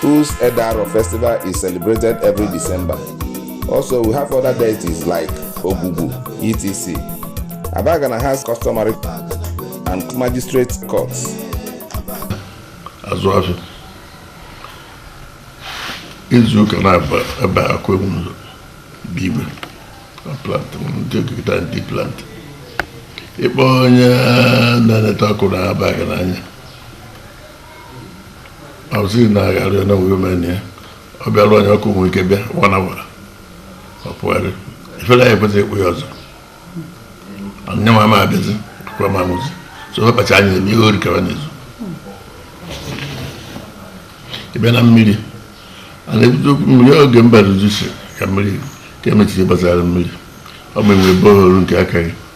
whose Edaro festival is celebrated every December. Also, we have other deities like Ogugu, etc. Abagana has customary and magistrate courts. As well as izu ụka na-aba ebe akwa ewu ụzọ bụ igwe plant ndị okikita ndị plant ịkpọ onye na-eneta ọkụ n'Abagana anya ọzi na-agharị onye wee mene ya ọ bịara onye ọkụ nwere ike bịa wana wara ọ pụgharị ifere anyị ekwesịghị ịkpụ ya ọzọ anya ma ma abịazi kwa ma mụzi so ọ kpacha anya eme ihe orikara n'ezu ịbịa na mmiri a na-ebudo okwu mmiri oge mba ruzi si ka mmiri ka emechiri gbasara mmiri ọ bụ inwe borehole nke aka gị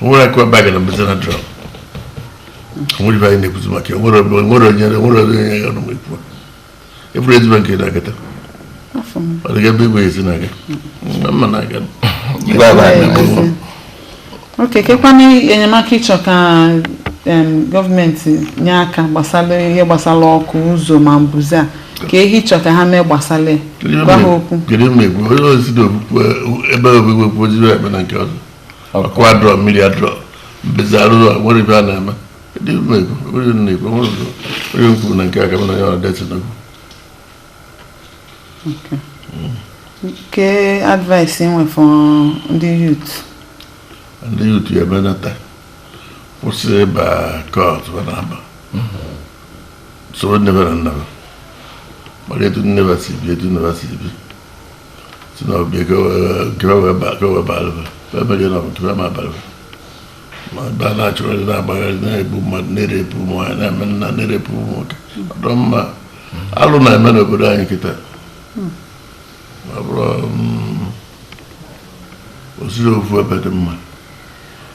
nwere akụ ebe a gara mbụzi na drum nwere ibe anyị na-ekwuzi maka ya nwere onye nwere onye ya nọ ekwu ebụrụ ezigbo nke na-agata ọ dịga ebe igwe ezi na-aga mma na-aga oke kekwanụ enyemaka ị chọ ka government nye aka gbasara ihe gbasara ọkụ ụzọ ma mbuze a ke ihe ị chọ ka ha mee gbasara ya gwa ha okwu kedu mgbe egwu onye ozi na okpukpe ebe ogbugbe okpoziri ebe na nke ọzọ ọkụ adịrọ mmiri adịrọ mbezi arụrụ a nwere ibe a na-eme kedu mgbe egwu onye nna egwu onye ọzọ onye kwuru na nke aka m na ya ọrụ deti n'okwu ke advice ị nwe for ndị youth ndị youth ya emenata kwụsị ịba cult na aba soro nne na nna ha mara etu nne ha si bi etu nne ha si bi si na ọbịa ka ha wee ba ka ha wee bara ha wee merie na ọbụtụ ha ma bara ha ma ebe a na-achụgharị na-agbagharị na-egbu mmadụ na-erape ụmụ nwaanyị na-eme nna na-erape ụmụ nwoke ọ dịrọ mma alụ na-eme n'obodo anyị kịta ma bụrụ osiri ofu ebe dị mma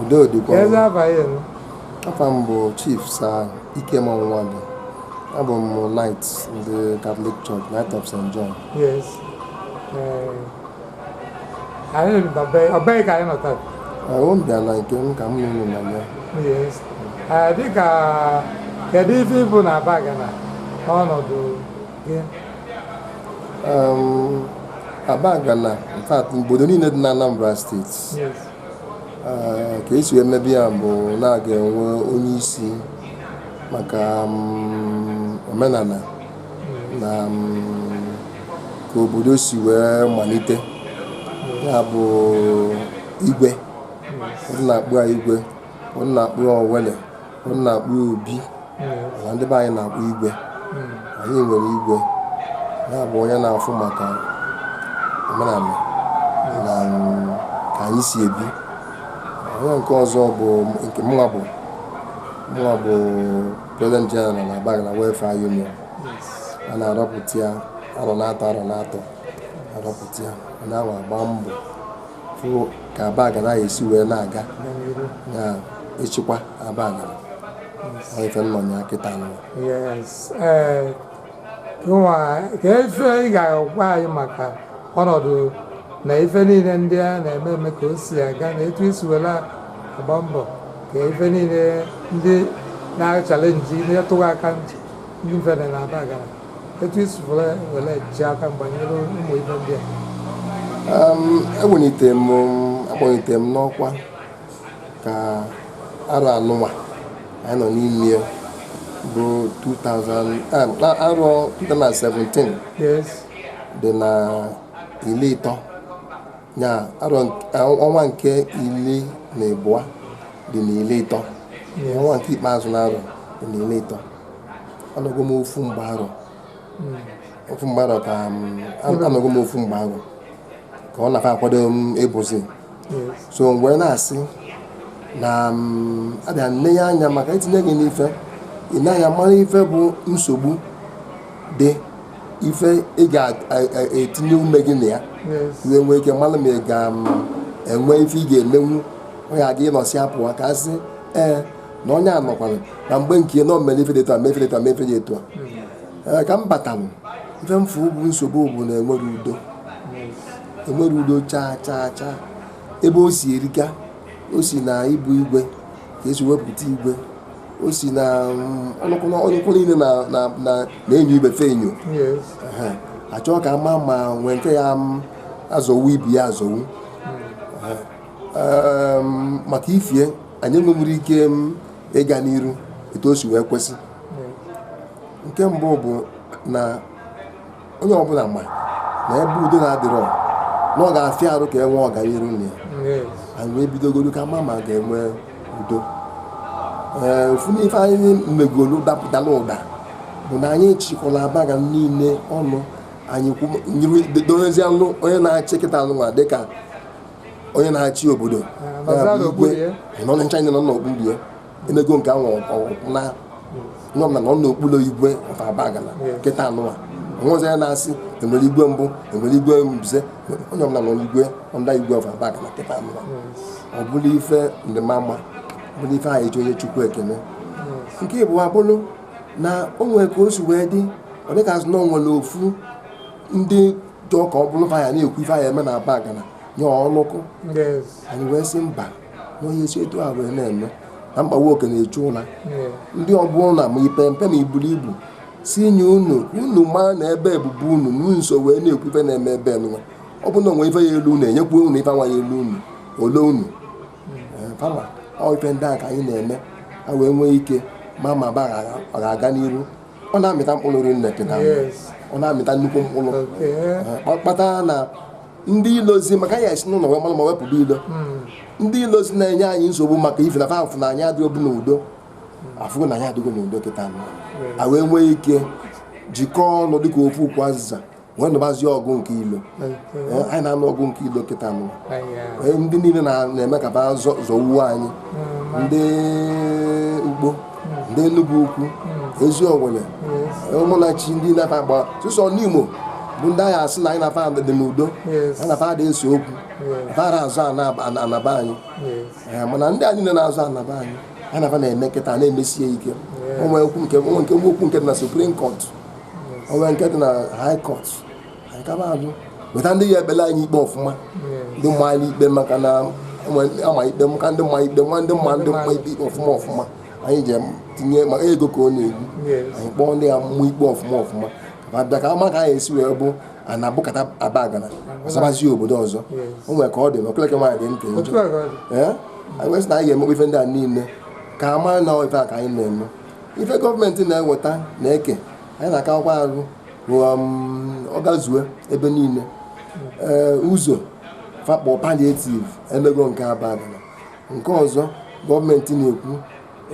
udo dịkwa afa m bụ chief sir Ikem Nwado abụ m knight ndị catholic church knight of st john yes eh, anyị ọbee ka anyị nọtara ahụ m bịala nke m ka m nụrụ na ya yes eh, dịka kedu ife ị bụ na Abagana ọnọdụ Um, Abagana in fact obodo niile dị na Anambra steeti uh, ka e si wee mebe ya bụ na a ga-enwe onye isi maka um, omenala na um, ka obodo si wee malite ya bụ igwe ụfọdụ na-akpọ ya igwe ụfọdụ na-akpọ ya Owelle m na-akpọ ya obi mana ndị be anyị na-akpọ igwe anyị nwere igwe ya bụ onye na-afụ maka omenanị na ka anyị si ebi onye nke ọzọ bụ nke mụnwa bụ mụnwa bụ president general na Abagana welfare union a na-arọpụta ya arọ n'atọ arọ n'atọ a rọpụta ya a na-agba mbọ fụ ka Abagana ya-esi wee na-aga na ịchịkwa Abagana Ọ ife m nọ ya kịta nụ yes ee gịnwa kee ife ị ga-agwa anyị maka ọnọdụ na ife niile ndị a na-eme eme ka o si aga na etu i si were agba mbọ ka ife niile ndị na-achallenge na-etụghị aka ntị ndị mfe na Abagana etu i si were were ji aka mgba nyere ụmụ ibe ndị a Um, ewelite m a kpọlite m n'ọkwa ka arọ anụnwa anyị nọ n'ime ya bụ 2000 ah, na arọ 2017 yes dị na iri ịtọ ya arọ nk- ah, ọnwa nke iri na abụọ dị na iri ịtọ ọnwa nke ikpeazụ na arọ dị na iri ịtọ anọgo m ofu mgba arọ ofu mgba arọ ka anọgo m ofu mgba arọ ka ọ na-afa akwado m ịbụzi so mgbe na-asị na a bịa nee ya anya maka itinye gị n'ife i nee anya mara ife bụ nsogbu dị ife ị ga-etinye ume gị na ya wee nwee ike mara ma ị ga-enwe ife ị ga-emenwu ọ ga-aga ị nọsịa pụa ka a sị ee na onye a nọkwara na mgbe nke ya na o mere ife dị etu a mee ife dị etu a mee ife dị etu a Ee, ka m batalụ ife m fụ bụ nsogbu bụ na enwerọ udo enwerọ udo chaa chaa chaa ebe o si erika o si na ịbụ igwe ka e si wepụta igwe o si na mm, ọnụkwụ ọnụkwụ niile na- na- na- na-enyo ibe fa enyo Yes. Ehe. achọ ka a ma ma e nwee nke ya-azọwu ibe ya azọwu Ehe. Em, maka ifie anyị enwerọ ike ịga n'iru etu o si wee kwesị nke mbụ bụ na onye ọbụla ma na ebe udo na-adịrọ na ọ ga-afịa arụ ka e nwee ọganiru na ya anyị wee bidogoro ka a ma ma a ga-enwe udo ee ofu n'ife anyị megoro dalụ ụda bụ na anyị chịkọlụ Abagana niile ọnụ anyị dozianụ onye na-achị kịta anụnwa dịka onye na-achị obodo nọ n'okpuru ya enego nke anwụ na nọ na n'okpuru igwe of Abagana kịta nụwa onwezi ya na-asị enwere igwe mbụ enwere igwe mbuze onye ọbụla nọ n'igwe under igwe of Abagana kịta nụwa ọ bụrụ ife dị mma bụrụ ife anyị ji enye Chukwu ekene nke ịbụa bụrụ na o nwere ka o si wee dị ọ dịka a sị na o nwere ofu ndị dị ọka ọ bụrụ ya na-ekwu ife anyị eme na Abagana nye ọnụkụ anyị wee sị mba n'onye esi etu a wee na-eme na mkpagbu oke na-echu ụra ndị ọbụla na ma i pe mpe na i buru ibu si nye unu unu maa na ebe ebubu unu n'nso wee na-ekwu ife na-eme ebe nwa ọ bụ na onwe ife ya elu unu enyekwa unu ife nwa ya elu unu ole unu fama ọ ife ndị a ka anyị na-eme a wee nwee ike ma ma ba ga-aga n'iru ọ na-amịta mkpụrụ rinne kịta ọ na-amịta nnukwu mkpụrụ eh, kpata na ndị ilozi maka ya esi n'ụlọ wee mara mma wee pụba ilo hmm. ndị ilozi na-enye anyị nsogbu maka ife na fa fụ na anyị adịghịbu n'udo afụgo na anyị adịgo n'udo kịta a wee nwee ike jikọọ ọnụ dịka ofu ukwu azịza wee nụbazi ọgụ nke ilo eh, anyị na-anụ ọgụ nke ilo kịta nụ ndị niile na-eme ka ba zọwuo anyị mm, ndị Ukpo mm. ndị Enugwu-Ukwu mm. Eziowelle Umunachi ndị na fa agba sọsọ Nimo bụ ndị a ga-asị na anyị na fa dị n'udo anyị na fa adị ese okwu fa ara azọ ana be anyị eh, mana ndị a niile na-azọ ana be anyị anyị na fa na-eme kịta na-emesie ike ụmụ nke nwa okwu nke na Supreme Court o nwe nke dị na high court anyị kaba ajụ weta ndị ya-ekpele anyị ikpe ọfụma ndị mma anyị ikpe maka na ama ikpe maka ndị ma ikpe nwa ndị ma ndị ma ikpe ọfụma ọfụma anyị ji tinye ma ego ka ọ na-egbu anyị kpọọ ndị ya mmụ ikpe ọfụma ọfụma ma bịa ka ama ka anyị esi wee bụ a na-abụkata Abagana ọsabazie obodo ọzọ o nwere ka ọ dị na okeleke nwaanyị dị ntị njọ ee anyị wee sị na anyị ga-emekwa ife ndị a niile ka ama na ife a ka anyị na-eme ife gọọmenti na-eweta na-eke anyị na-akakwa arụ um, ọ gazuo ebe niile ụzọ fa kpọ palliative emego nke Abagana nke ọzọ gọọmenti na-ekwu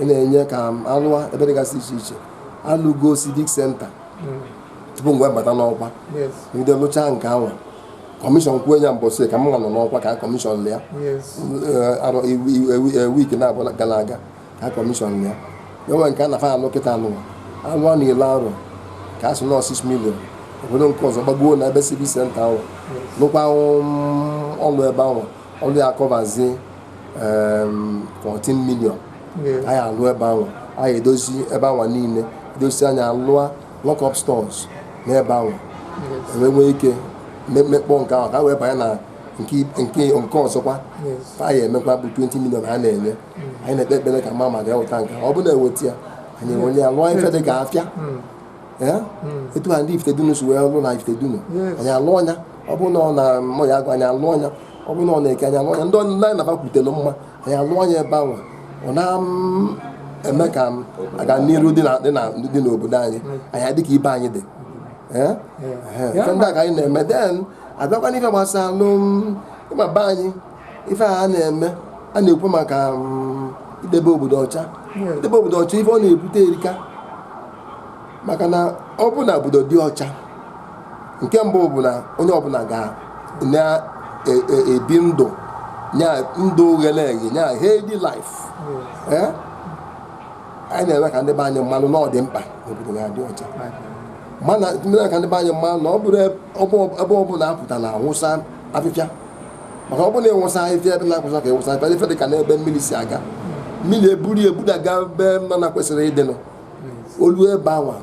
na-enye ka a lụa ebe dịgasị iche iche alụgo civic center hmm. tupu m wee bata n'ọkwa ndị lụchaa nke ahụ commission kwuo ya mbọsị ka m nọ n'ọkwa ka commission lịa eh, eh, eh, week naabọ gara aga ha kọmishọn ya enwe nke a na fa alụ kịta alụ alụ a na-ele arụ ka a sị na ọ 6 million obodo nke ọzọ gbagbuo na ebe civic center ahụ lụkwa um, ọlụ ebe ahụ ọlụ ya akọvazie um, 14 million anyị alụ ebe ahụ anyị edozi ebe ahụ niile edozi anyị alụọ lock up stores n'ebe ahụ wee nwee ike me- mekpọ nke ahụ ka a wee banye na nke nke nke ọzọkwa Yes. anyị emekwa bụ 20 million a na-enye anyị na-ekpe ekpere ka mama ga-eweta nke ọ bụrụ na eweta ya anyị ewere ya lụọ ife dị ka afịa etu ha ndị Ifitedunu si wee lụ na Ifitedunu anyị alụọ nya ọ bụrụ na ọ na Oye Agụ anyị alụọ nya ọ bụrụ na ọ n'Eke anyị alụọ nya ndị ọnụnụ anyị nabakwutere mma anyị alụọ nya ebe ahụ ọ na-eme ka aga n'iru dị n'obodo anyị anyị adịka ibe anyị dị ndị a ka anyị na-eme then abịakwa n'ife gbasara alụm ịma be anyị ife a na-eme a na-ekwu maka um, idebe obodo ọcha idebe obodo ọcha ife ọ na-ebute erika maka na ọ bụ na obodo dị ọcha nke mbụ bụ na onye ọbụla ga na-ebi e, e, ndụ nya ndụ ga-enye nya healthy life eh? anyị na-eme ka ndị be anyị malụ na ọ dị mkpa obodo ga-adị ọcha ma na-eme ka ndị be anyị malụ na ọ bụrọ ebe ọbụla a pụta na-awụsa afịfịa maka ọ bụrụ na ị wụsa ahịhịa ebe na-ekwesịrọ ka ị wụsa ahịhịa ife dị ka n'ebe mmiri si aga mmiri eburu ebudaga ebe ọ na-ekwesịrọ ịdịnụ o lue ebe anwa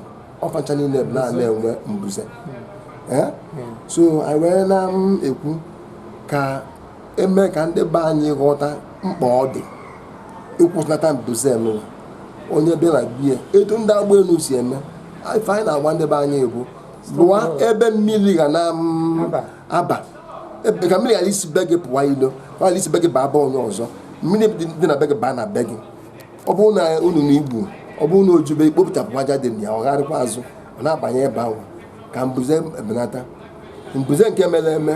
ọ facha niile ebe a na-enwe mbuze Eh? so anyị wee na-ekwu ka e mee ka ndị be anyị ghọta mkpa ọ dị ịkwụsịnata mbuze nụwa onye bịa na be ya etu ndị agba elu si eme ife anyị na-agwa ndị be anyị bụ lụwa ebe mmiri ga na mm, aba aba e, ka mmiri ghara isi be gị pụwa ilo ọ ghara isi be gị baa be onye ọzọ mmiri dị na be gị baa na be gị ọ bụrụ na unu na igbu ọ bụrụ na o jube i kpopụtapụ aja dị na ya ọ gharịkwa azụ ọ na-abanye ebe ahụ ka mbuze ebenata mbuze nke mere eme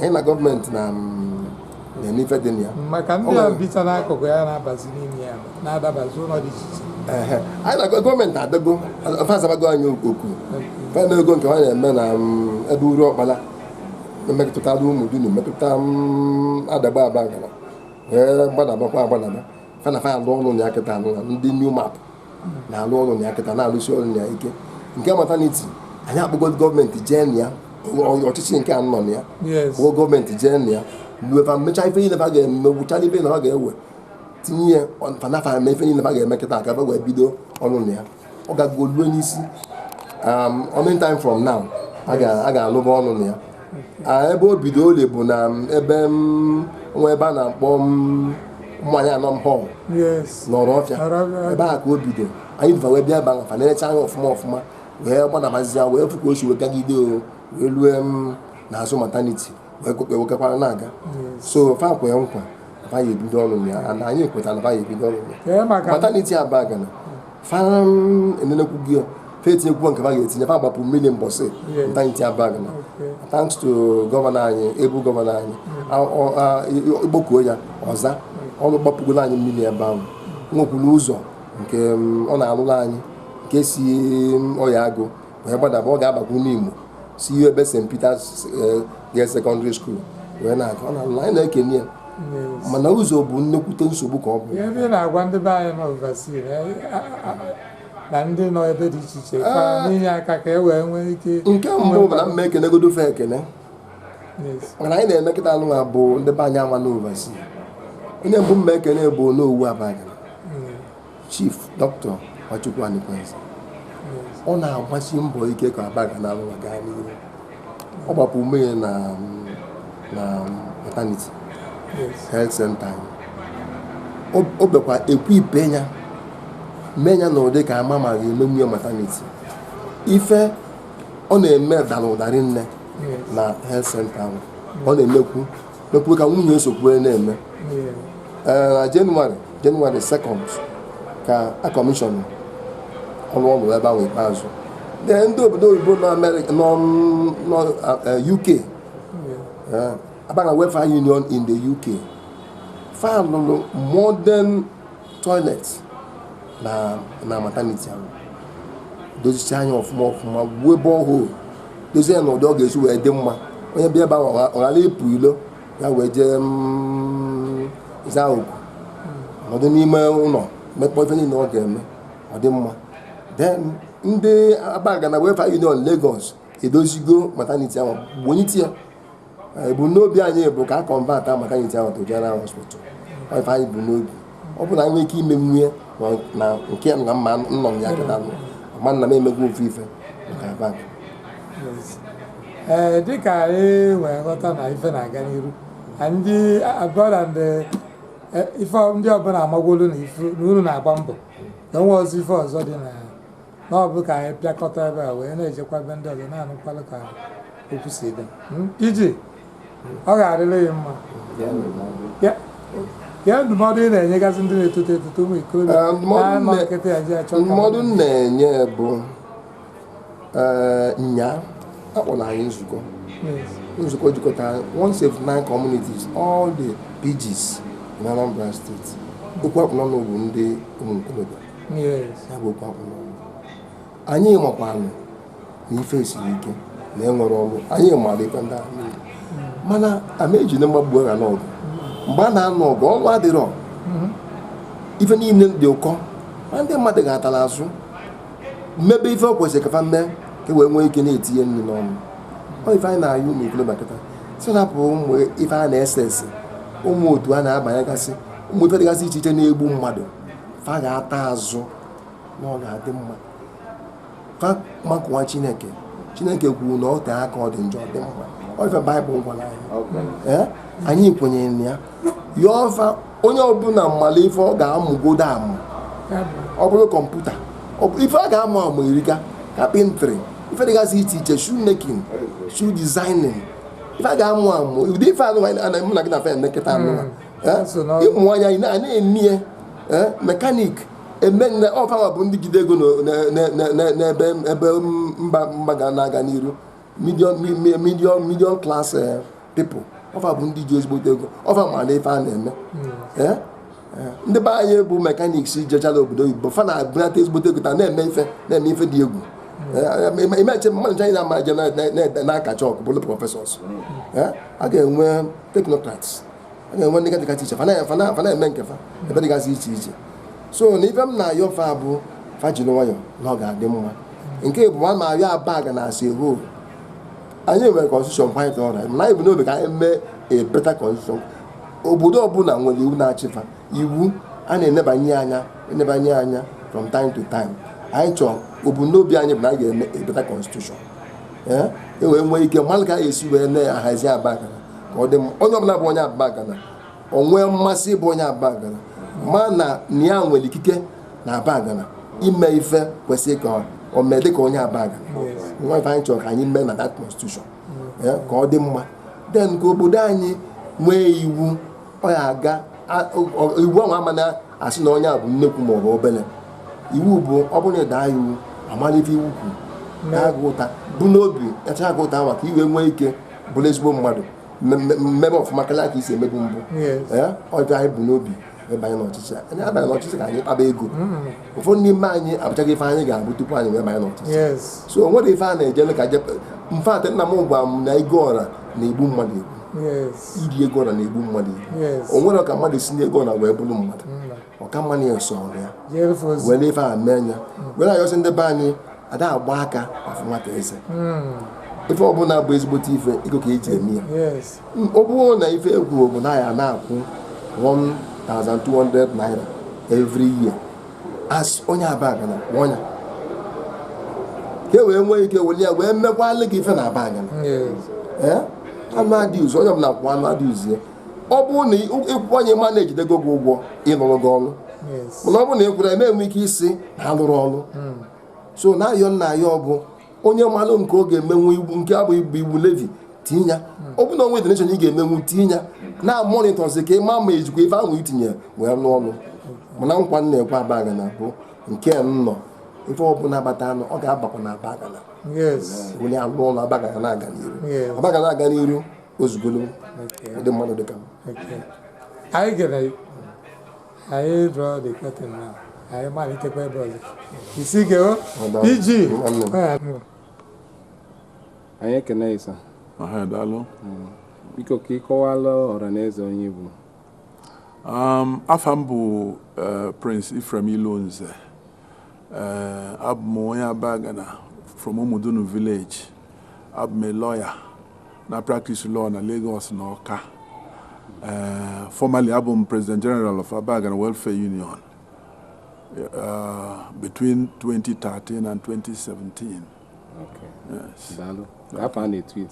anyị na gọọmenti na mm, n'ife dị na ya maka ndị a bicha n'akụkụ ya na-abazi n'ime ya na-adabazi ụlọ dị iche iche anyị na gọọmenti adago fa azabago anyị oku fa na ego nke ha na-eme na mm, ebe Uruọkpala emetụtara Ụmụdunu metụta Adagbe Abagana wee gbadabakwa agbadaba fa na fa alụ ọrụ na ya kịta anyị na ndị NEWMAP na-alụ ọrụ na ya kịta na-alụsi ọrụ na ya ike nke maternity anyị akpụgo gọọmenti jee na ya ọchịchị nke a nọ na ya kpụgo gọọmenti jee na ya lue fa mecha ife niile fa ga-eme gụchara ife na ha ga-ewetinye fa na fa eme ife niile fa ga-eme kịtaa ka fa wee bido ọrụ na ya ọ gago lue n'isi um, any time from now a ga-alụba ọlụ na ya ah, ebe o bido ole bụ na um, ebe um, nwa ebe a na-akpọ mmanya anọ m họl n'Orofia ebe a ka o bido anyị dịva wee bịa ebe ahụ fa enechaa anya ọfụma ọfụma wee gbanabazia wee fụ ka o si wee gagide o wee lue n'azụ mataniti ekwekewekekwara na-aga so fa kwee nkwa fa ya-ebido ọrụ ya and anyị ekweta na fa ya-ebido ọrụ ya Ee, maka mataniti Abagana fa enenekwu ya fa etinyekwuo nke fa ga-etinye fa gbapụ mmiri mbọsị Yes. mataniti Abagana Okay. thanks to gọvanọ anyị ebu gọvanọ anyị A- ọ- a- i- ị kpọkuo ya ọ za ọrụ gbapụgoro anyị mmiri ebe ahụ nwekwuru ụzọ nke mm, ọ na-arụrụ anyị nke si mm, Oye Agụ wee gbadaba ọ ga-abakwu Nimo si ihe ebe St. Peter's eh, Girls Secondary School wee na-aga ọ na-alụ anyị na-ekene ya mana ụzọ bụ nnekwute nsogbu ka ọ bụ ihe ndị na-agwa ndị be anyị nọ overseas na- a- a- na ndị nọ ebe dị iche iche ka e tinye aka ka e wee nwee ike nke mbụ bụ na m ma-ekenegodu fa ekene Yes. mana anyị na-eme kịta alụ ha bụ ndị be anyị ahụ nọ overseas onye mbụ m ma-ekene bụ Onowu Abagana Chief Dr. Nwachukwu Anakwenze ọ na-agbasi mbọ ike ka Abagana alụwa gaa n'ihu ọ gbapụ mmiri na na maternity health center o bekwa ekwu ife ya mee ya na ụdị ka ama ma ga-emegbu ya maternity ife ọ na-eme dara ụda rinne na health center ahụ ọ na-emekwu mekwuru ka nwunye ya sokwu ya na-eme ee na jenụwarị jenụwarị 2nd ka a kọmishọn ọrụ ọ rụrụ ebe ahụ ikpeazụ Then ndị obodo oyibo nọ Amerịka nọ nọ, eh, UK eh, Abagana welfare union in the UK fa lụrụ modern toilet na na maternity ahụ dozicha ya ọfụma ọfụma webe ọhụụ dozie ya n'ụdị ọ ga-esi wee dị mma onye bịa ebe ahụ ọ gha- ọ ghara ịpụ ilo ya wee jee mm, zaa oku nọdụ n'ime ụlọ mekpọ ife niile ọ ga-eme ọ dị mma then ndị Abagana Welfare Union Lagos edozigo mataniti ahụ wenite ya ebumnobi anyị bụ ka a kọnvata mataniti ahụ to general hospital ife anyị bu n'obi ọ bụ na anyị nwee ike ime nwunye na nke na mma nnọ m ya kịta nọ ma nna m emego ofu ife maka Abagana ee eh, dịka anyị e wee ghọta na ife na-aga n'iru ndị abụọla ndị e, ife ndị ọbụla amagolu na unu na-agba mbọ na o nwe ọzọ ife ọzọ dị na na ọ bụ ka anyị pịakọta ebe a wee na-ejekwa ebe ndị ọzọ na-anụkwalụ ka okwu si dị Hmm? iji ọ ga-adịrị gị mma Ya- ya ndụmọdụ ị na-enyegasị ndị na-etoto etoto ụmụ ikorobịa Eh, ndị mmadụ na-anọ nne- nkịtị ya ji achọ ka- ndụmọdụ m na-enye bụ ee nya a kpọrọ anyị nzukọ Yes. nzukọ jikọta 179 communities all the PGs in Anambra State okwu akpụ n'ọnụ bụ ndị ụmụ ntorobịa ya bụ okwu akpụ n'ọnụ anyị makwanụ na ife siri ike na e nwerọ ọrụ anyị mara ife ndị ahụ mana ama eji na mgbagbu agha n'ọgụ mgbe a na-anụ ọgụ ọrụ adịrọ mm-hmm. ife niile dị ụkọ ma ndị mmadụ ga-atara azụ mmebe ife ọ kwesịrị ka fa mee ka e wee nwee ike na-etinye nri n'ọnụ ọ ife anyị na-ayọ ụmụ ikolobịa kịta sị rapụ ụmụ ife a na-ese ese ụmụ otu a na-abanyegasị ụmụ ife dịgasị iche iche na-egbu mmadụ fa ga-ata azụ na ọ ga-adị mma fa makụwa chineke chineke kwuru na ọ tee aka ọ dị njọ dị mma ọ ife baịbụl gwara anyị anyị kwenyere na ya ya ọ fa onye ọbụla malụ ife ọ ga-amụgodo amụ ọ bụrụ kọmputa ife a ga-amụ amụ erika carpentry ife dịgasị iche iche shoe making shoe designing ife a ga-amụ amụ ụdị ife anụ na mụ na gị na fa emekọta ọnụ hmm. ịmụ anya anyị na-eme ya mechanic emenne ọ fanwa bụ ndị jide ego n'ebe ebe mba mba ga na-aga n'iru medium medium class people ọ fa bụ ndị ji ezigbote ego ọ fa mara ife a na-eme hmm. ndị be anyị bụ mechanics jechala obodo oyibo fa na-ebunata ezigbote ego fa na-eme ife na-eme ife dị egwu imeche mmadụ ncha anyị na-ama je na-ede na-akacha ọkụ bụrụ professors a ga-enwe technocrats a na-enwe ndị dịgasị iche fa na-eme nke fa ebe dịgasị iche iche so na ife m na-ayọ fa bụ fa jiri nwayọ na ọ ga-adị mma nke bụ ma maka Abagana as a whole anyị nwere constitution quite alright na anyị bu n'obi ka anyị mee a better constitution obodo ọbụla nwere iwu na-achị fa iwu a na-enebanye anya enebanye anya from time to time anyị chọọ ebumnobi anyị bụ na anyị ga-eme a better constitution e wee nwee ike malụ ka a ga-esi wee na-ahazi Abagana ka ọ dị mma onye ọbụla bụ onye Abagana o nwee mmasị ịbụ onye Abagana ma na na ya nwere ikike na Abagana ime ife kwesịrị ka o mee dịka onye Abagana nwa ife anyị chọrọ ka anyị mee na that constitution ya, ka ọ dị mma then ka obodo anyị nwee iwu ọ ya aga a- ọ- iwu ahụ ama na-asị na onye a bụ nnekwu ma ọ bụ obele iwu bụ ọ bụrụ na ị daa iwu a malụ ife iwu kwuru na-agụ ụta bu n'obi echa agụ ụta maka e wee nwee ike bụrụ ezigbo mmadụ mebe ọfụma karịa ka i si emebu mbụ ọjọ anyị bu n'obi ịbanye n'ọchịchị a anyị abanye n'ọchịchị ka anyị kpaba ego hmm. ụfọdụ n'ime anyị abụchaghị ife anyị ga-abụ tupu anyị wee banye n'ọchịchị so o nwere ife a na-ejele ka je mfe atị nna m gwa m na ego ọra na-egbu mmadụ egbu iri ego ọra na-egbu mmadụ egbu o nwere ka mmadụ si n'ego ọra wee bụrụ mmadụ hmm. ọ ka mma na ya so ọrụ ya jere fa ozi wee na ife a mee anya wee na-ayọsị ndị be anyị a da agba aka afụ nwata eze ife ọbụla bụ ezigbote ife ego ka e ji eme ya yes M- ọ bụrụ na ife e kwu bụ na ị ya na-akwụ 1200 naira every year as onye Abagana kwụnye ka e wee nwee ike weli ya wee mekwalị gị ife na Abagana yes ee annual dues onye ọbụla kwụọ annual dues ya ọ bụrụ na ị kwụnye ma na e jidego gị ụgwọ ịlụrụ gị ọrụ mana ọ bụrụ na ị kwụrọ ị ma-enwe ike ịsị na a lụrọ ọrụ hmm. so na-ayọ na ya bụ onye manụ nke ọ ga-emenwu iwu nke abụ ibu iwu levy tinye ya hmm. ọ bụ na o nwe donation ị ga-emenwu tinye ya na-monitorzi ka ị ma ma e jikwa ife ahụ i tinye wee rụọ ọrụ mana nkwa m na-ekwe Abagana bụ nke nnọ ife ọbụla batanụ ọ ga-abakwa na Abagana weli ya lụọ ọrụ Abagana na-aga n'iru Abagana aga n'iru o zugolu ụdị mmadụ dị ka m anyị gere anyị draw the curtain na anyị malitekwa ebe ọzọ isi gewo iji anyị ekene ị sir daalụ hmm. biko ka ị kọwaara ọra na eze onye ị bụ Um, afa m bụ uh, Prince Ephraim Ilonze uh, abụ m onye Abagana from Umudunu village abụ m a lawyer na-practice law na Lagos na Ọka eh, formerly abụ m President General of Abagana Welfare Union uh, between 2013 and 2017 Okay. yes. Daalụ. Afa a na-etu ị.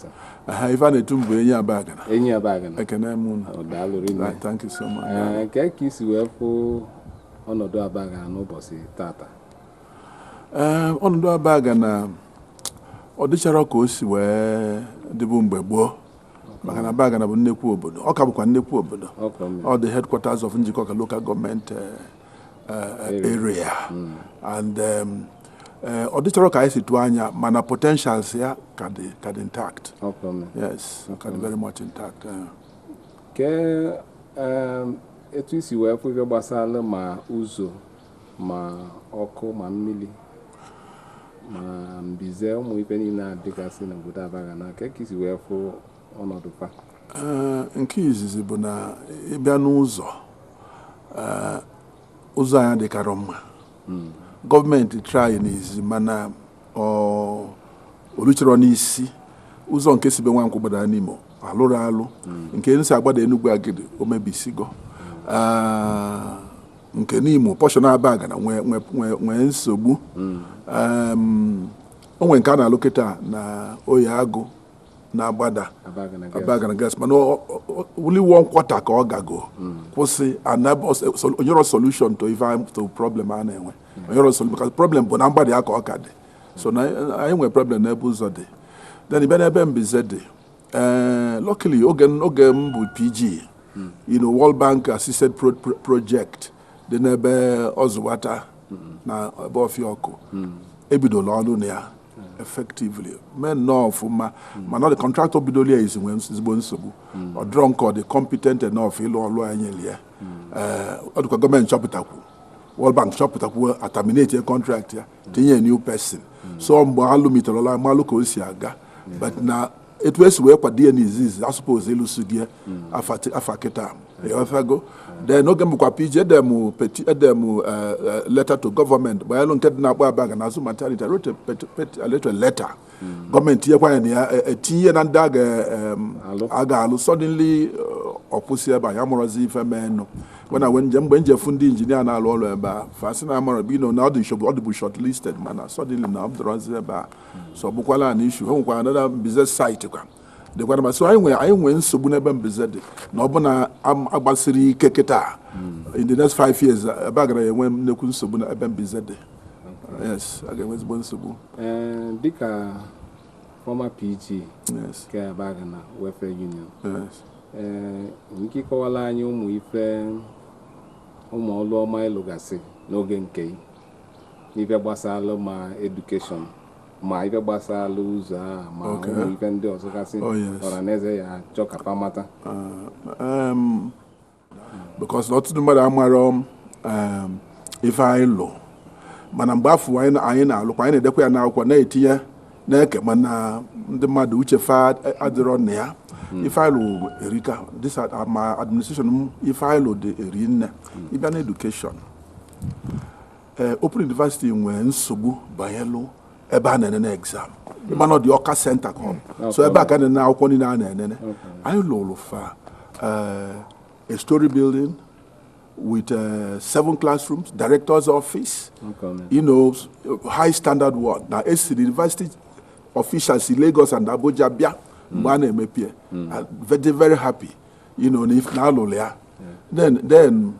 Aha, ife a na-etu m bụ Enyi Abagana Enyi Abagana. Ekene m unu Ọ daalụ rinne. Right, thank you so much Ee, Kee ka i si wee fụ ọnọdụ Abagana n'ụbọsị tata. ee ọnọdụ Abagana ọ dịcharọ ka o si wee dịbu mgbe gboo maka na Abagana bụ nnekwu obodo ọ ka bụkwa nnekwu obodo ọ the headquarters of Njikọka local government eh, eh, area hmm. and um, eh, ọ dịcharọ ka anyị si tụọ anya mana potentials ya ka dị ka dị intact yes ka dị very much intact kee um, etu i si wee kwu ife gbasara ma ụzọ ma ọkụ ma mmili ma mbize ụmụ ife niile a dịgasị n'obodo Abagana kee ka i si wee fụ ọnọdụ fa Ee, nke izizi bụ na ị bịa n'ụzọ ee, ụzọ anyị dịkarọ mma government try n'izizi mana oluchọrọ n'isi ụzọ nke si be nwankwụ gbada Nimo alụrụ alụ nke nsi agbada enugwu agidi o mebisigo nke Nimo portion Abagana nwee nsogbu o nwere nke a na-alụ kịta na Oye Agụ na-agbada Abagana Girls mana only one quarter ka ọ gago kwụsị o nyerọ solution to problem a na-enwe nwere nsogbu maka problem bụ na mgbada ya ka ọ ka dị so na anyị nwere problem n'ebe ụzọ dị then ị bịa n'ebe mbize dị ee eh, luckily oge oge m bụ pg you know World Bank assisted project dị n'ebe ọzụwata na ebe ọfịa ọkụ ebidola ọlụ na ya effectively mee nnọọ ọfụma mana the contractor bidola ya izi nwee ezigbo nsogbu ọ dịrọ nke ọ dị competent enough ịlụ ọlụ e nyelụ ya ọ dịkwa government chọpụtakwu World Bank chọpụtakwu a terminatie contract ya tinye new person so mgbe a lụmite ọlụ a malụ ka o si aga but na etu e si wee kwado ya n'izizi a suppose ịlụsịgo ya afa kịta ị ghọtago then oge m bụkwa pg edee m peti edee m eh, eh, letter to government banyelụ nke dị n'Akpụ Abagana azụ maternity wrote a letter government tinyekwa ya na ya e, e, tinye na ndị a ga-alụ suddenly ọ kwụsị ebe a amarọzi ife mee nụ wena we njem mgbe m je fụ ndị engineer na-alụ ọlụ ebe a fa sị na amara you know na ọ dị nshogbu ọ dịbụ short listed mana suddenly na ọ dịrọzi ebe a so ọ bụkwa another issue a nwekwara another mbize site kwa dịkwara masị anyị nwere anyị nwee nsogbu n'ebe mbize dị na ọ bụ na agbasirọ ike kịta in the next five years ebe a ga-enwe nnekwu nsogbu na ebe mbize dị yes a ga-enwe ezigbo nsogbu ee dịka former PG yes nke Abagana Welfare Union yes ee nwere ike ịkọwalụ anyị ụmụ ife ụmụ ọlụ ọma ị lụgasị n'oge nke ị n'ife gbasalụ ma education ma ife gbasalụ ụzọ a ma Okay. ụmụ ife ndị ọzọ gasị Oh, yes. ọra na eze ya-achọ ka fa mata Ah, em, because na ọtụtụ mmadụ amarọ um, ife anyị lụ mana mgbe afụ anyị na- anyị na-alụkwa anyị na-edekwa ya n'akwụkwọ na-etinye na-eke mana ndị mmadụ uche fa adịrọ na ya ife anyị lụ erika this ad- ah, my administration m ife anyị lụ dị eri nne ị bịa na education ee open university nwee nsogbu banyelụ ebe a na-enene exam mana dị Ọka center ka ọ so ebe a ka na-enene akwụkwọ niile a na-enene anyị lụlụ fa eh, a story building with uh, seven classrooms, director's office, okay, you know, high standard one. Now, it's the university officials si Lagos and Abuja, bịa, banye mm. mepie. Mm. Very, very happy, you know, ife anyị lụ. then, then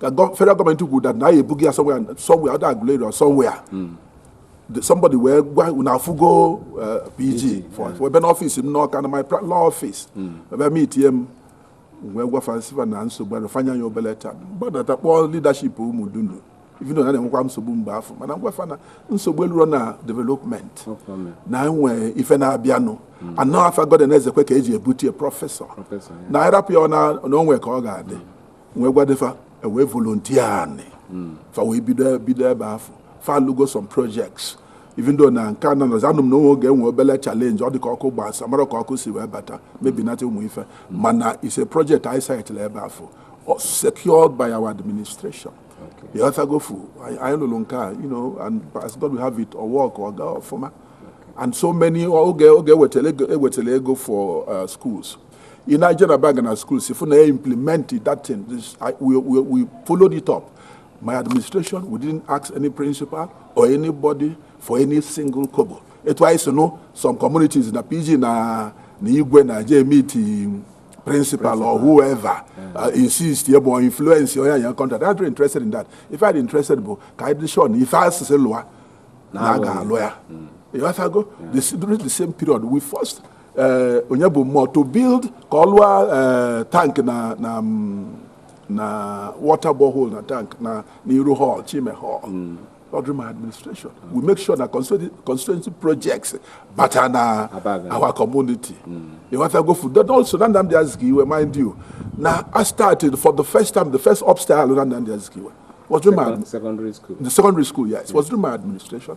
ka federal gọọmenti kwuru that na anyị ebughị ya somewhere either Aguleri or somewhere hmm. somebody wee gwa na afụgo eh, PG ebe n'ọfịs m n'Ọka na my law office hmm. ebe m itinye m wee gwa fa sị fa na nsogbu ahụ fa nye ya obele time gbadata kpọọ leadership Ụmụdunu even though na na-enwekwa nsogbu mgbe afụ mana m gwa fa na nsogbu elurọ na development na e nwe ife na-abịanụ hmm. na ọ afa Godwin Ezekwe ka eji ebute prọfesọ na ịrapụ ya na o nwe ka ọ ga-adị hmm. wee gwade fa e wee volunteer anị hmm. fa wee bido bido ebe afụ fa alụgo some projects even though na nke anọ nọzi anụ m na o nwe oge e nwe obele challenge ọ dị ka ọkụ gbasa amarọ ka ọkụ si wee bata mebinata ụmụ ife hmm. mana it's a project anyị sitela ebe afụ secured by our administration ịghọtago fụ anyị lụrụ nke a you know and as God will have it ọ work ọ gaa ọfụma and so many oge oge e wetelụ ego for uh, schools ị na-eje na bank na schools ịfụ na ya implement that thing This- I- we, we, we followed it up my administration we didn't ask any principal or anybody for any single kobo etu anyị si nụ some communities na PG na na igwe na-eje meet principal or whoever uh, insist ya bụ influence onye e nye contract I'm not interested in that ife m interested bụ ka anyị dị sure na ife a sị sị lụa na a ga-alụ ya ịghọtago the, during the same period we first ee onye bụ mmụọ to build ka ọ lụọ ee tank na na mm, na water borehole na tank na n'iru hall Chime hall ọ during my administration we make sure na constituency constituency projects bata na Abagana our community ịghọtago fụ then also na Nnamdi Azikiwe mind you na I started for the first time the first upstairs na Nnamdi Azikiwe was during my Second- Secondary school. the secondary school yes was during my administration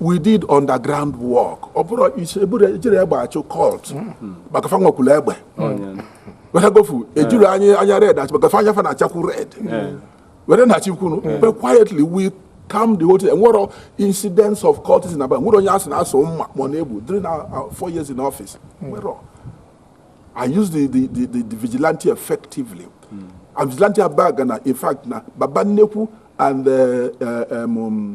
we did underground work ọ bụrọ ị sị e buru ejirọ egbe achụ cult maka fa nwekwuru egbe ịghọtago fụ ejirọ anya anya red achụ maka fa anya fa na-achakwu red wee na-achụkwu unu but quietly we calm the whole thing enwerọ incidents of cultism aba nwerọ onye a sị na a sụ mma ma ọ na e gbu during our our four years in office nwerọ I use the, the, the, the, the vigilante effectively. And vigilante Abagana in fact na baba nnekwu and uh, uh, um, um,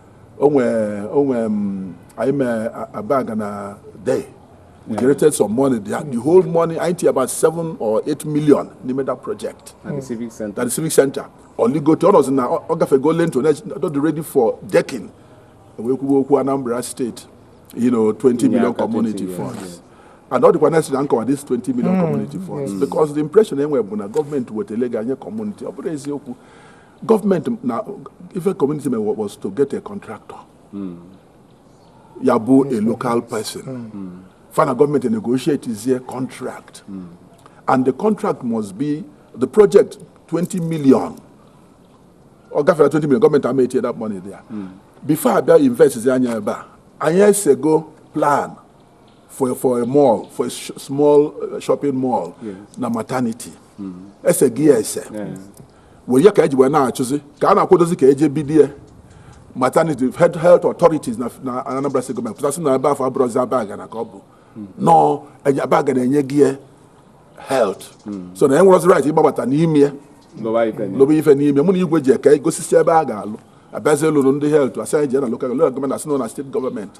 o nwe o nwe mm, anyị mee Abagana Day we created some money there the whole money anyị tinye about 7 or 8 million n'ime that project na the civic center na the civic center o ligote ọ nọzi na ọ ọ gafego lintel dị ready for decking wee kwuwe okwu Anambra State you know 20 ịnye million aka 20 community yes, funds yes. and ọ dịkwa necessary m kọwa this 20 million community funds because the impression e nwe bụ na gọọmenti wetelụ ego nye community ọ bụrọ eziokwu gọọmenti na ife community mee was to get a contractor hmm. ya bụ a local person hmm. fa na gọọmenti negotiate zie contract hmm. and the contract must be the project 20 million ọ gafee 20 million gọọmenti ama etinye that money there before abịa invest zi anya ebe a anyị esego plan for, for a mall, for a sh small uh, shopping mall yes. na maternity mm. ese gị ya ese wee ya ka eji wee na-achụzi ka a na-akwadozi ka eje bidie maternity health, health authorities na, na Anambra State gọọmenti pụtasị na ebe afụ abụrọzi Abagana ka ọ bụ mm. nọọ Abagana enyego ya health mm. so na enwerọzi right ịgbabata n'ime ya lụbe ife n'ime mụ na igwe ji eke gosisi ebe a ga-alụ abịazi lụrụ ndị health asị anyị jee na lokal gọọmenti asị na steeti gọọmenti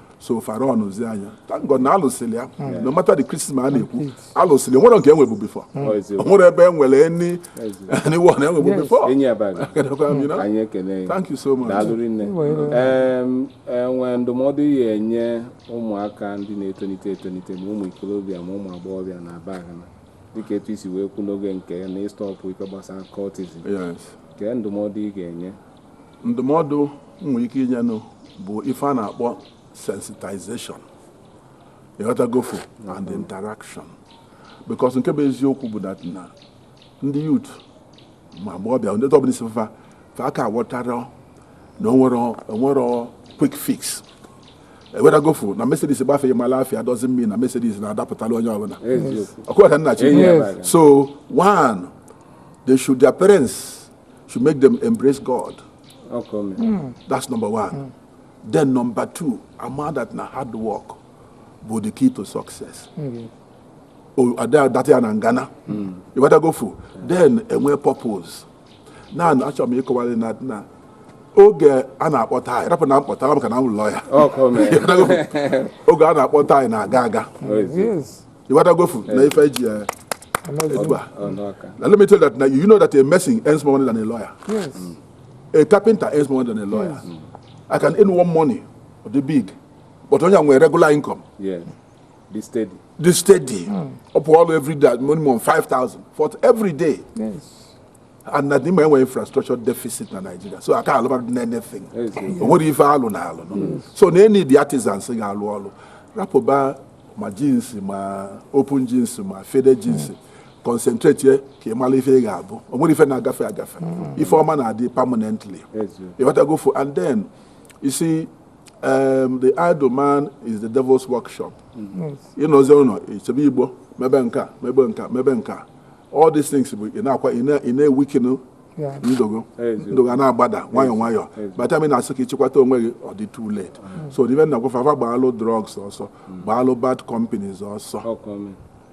so fara ọnụzi anya thank God na alụsịrị ya hmm. no matter the criticism a na-ekwu alụsịrị nwere nke enwebu before hmm. o nwere ebe enwere ni anyone enwebu before thank you so much o nwee ndụmọdụ ị ga-enye ụmụaka ndị na-etolite etolite ma ụmụ ikolobịa ma ụmụ agbọghọbịa na Abagana dịka etu isi wee kwu n'oge nke na ịstọpụ ife gbasara cultism kee ndụmọdụ ị ga-enye ndụmọdụ m nwere ike inyenụ bụ ife a na-akpọ sensitization ịghọtagofu and interaction because nke bụ eziokwu bụ that na ndị youth ma agbọghọbịa ndị ọbụla isi fa fa aka aghọtarọ na onwere onwerọ quick fix ịghọtagofu na Mercedes gbafeghị mala afia dozi mmiri na Mercedes na-adapụtala onye ọbụla ọkụwa ka nna chi Yes. so one they should their parents should make them embrace God. Okay. Mm. That's number one. Mm. Then number two, ama that na hard work bụ the key to success. Mm. Oh, that ya na ngana. Mm. ịghọtagofu. Then enwe purpose. Na achọrọ m ịkọwara na na oge a na-akpọ time rapụ na mkpọta maka na m lụọ ya oge a na-akpọ time na-aga aga ịghọtagofu na ife ji ya etu a na let me tell that na you know that a mason earns more money than a lawyer yes. mm. a carpenter earns more money than a lawyer yes. mm. i can earn one money ọ dị big but onye nwere regular income yes. dị steady dị steady mm. ọ pụọ ọrụ every day minimum 5000 for every day yes. and na ị ma enwe infrastructure deficit na Nigeria so aka alụba na anything o nwerọ ife alụ na alụ so na e need artisans ga-alụ ọrụ rapụba ma jeans ma open jeans ma faded jeans concentrate ye ka ị mara ife ị ga-abụ o nwere ife na-agafe agafe ife ọma na-adị permanently ịghọtagofu and then you see um, the idle man is the devil's workshop ịnọzi ụnọ isebe igbo mebe nka mebe nka mebe nka all these things bụ ị na-akwa ị na-ewikinu ndogo ndogo a na-agbada nwayọ nwayọ by time ị na-asị ka ị chịkwata onwe gị ọ dị too late mm. so ife m na-agwa fa fa gbaalụ drugs ọsọ mm. gbaalụ bad companies ọsọ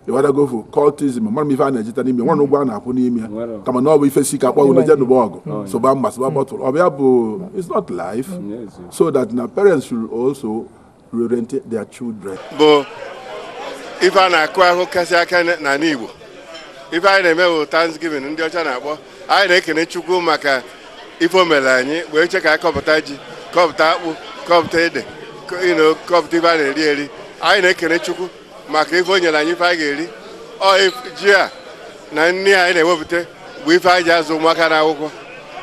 ịwadagofu cultism amarọ m ife a na-ejeta n'ime o nwerọ ụgwọ a na-akwụ n'ime ya kama na ọ bụ ife si ka a kpọ gị i jee nụba ọgụ mm. sụba mma sụba bottle ọ bụ ya bụ it's not life so that na parents should also reorientate their children. bụ ife a na-akụ akụ kasị aka n'ala Igbo ife anyị na-eme bụ Thanksgiving ndị ọcha na-akpọ anyị na-ekene Chukwu maka ife o mere anyị wee che ka anyị kọpụta ji kọpụta akpụ kọpụta ede you know kọpụta ife a na-eri eri anyị na-ekene Chukwu maka ife o nyere anyị ife anyị ga-eri ọ ji a na nri anyị na-ewepụta bụ ife anyị ji azụ ụmụaka n'akwụkwọ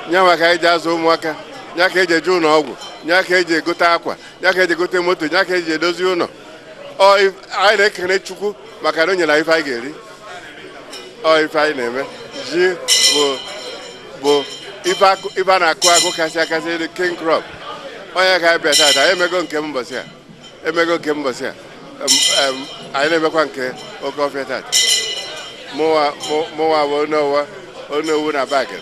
nya ka anyị ji azụ ụmụaka nya ka e ji eje ụlọ ọgwụ nya ka e ji egote akwa ya ka e ji egote moto ya ka e ji edozi ụlọ anyị na-ekele chukwu maka na o nyere ife anyị ga-eri ọ ife anyị na-eme ji bụ ife a na-akụ akụ kasị akasị elu king crop ọ nya ka anyị bịa tata anyị emego nke mbọsị a emego nke mbọsị a anyị na-emekwa nke oke ọfịa tata mụwa bụ Onowu na bagịrị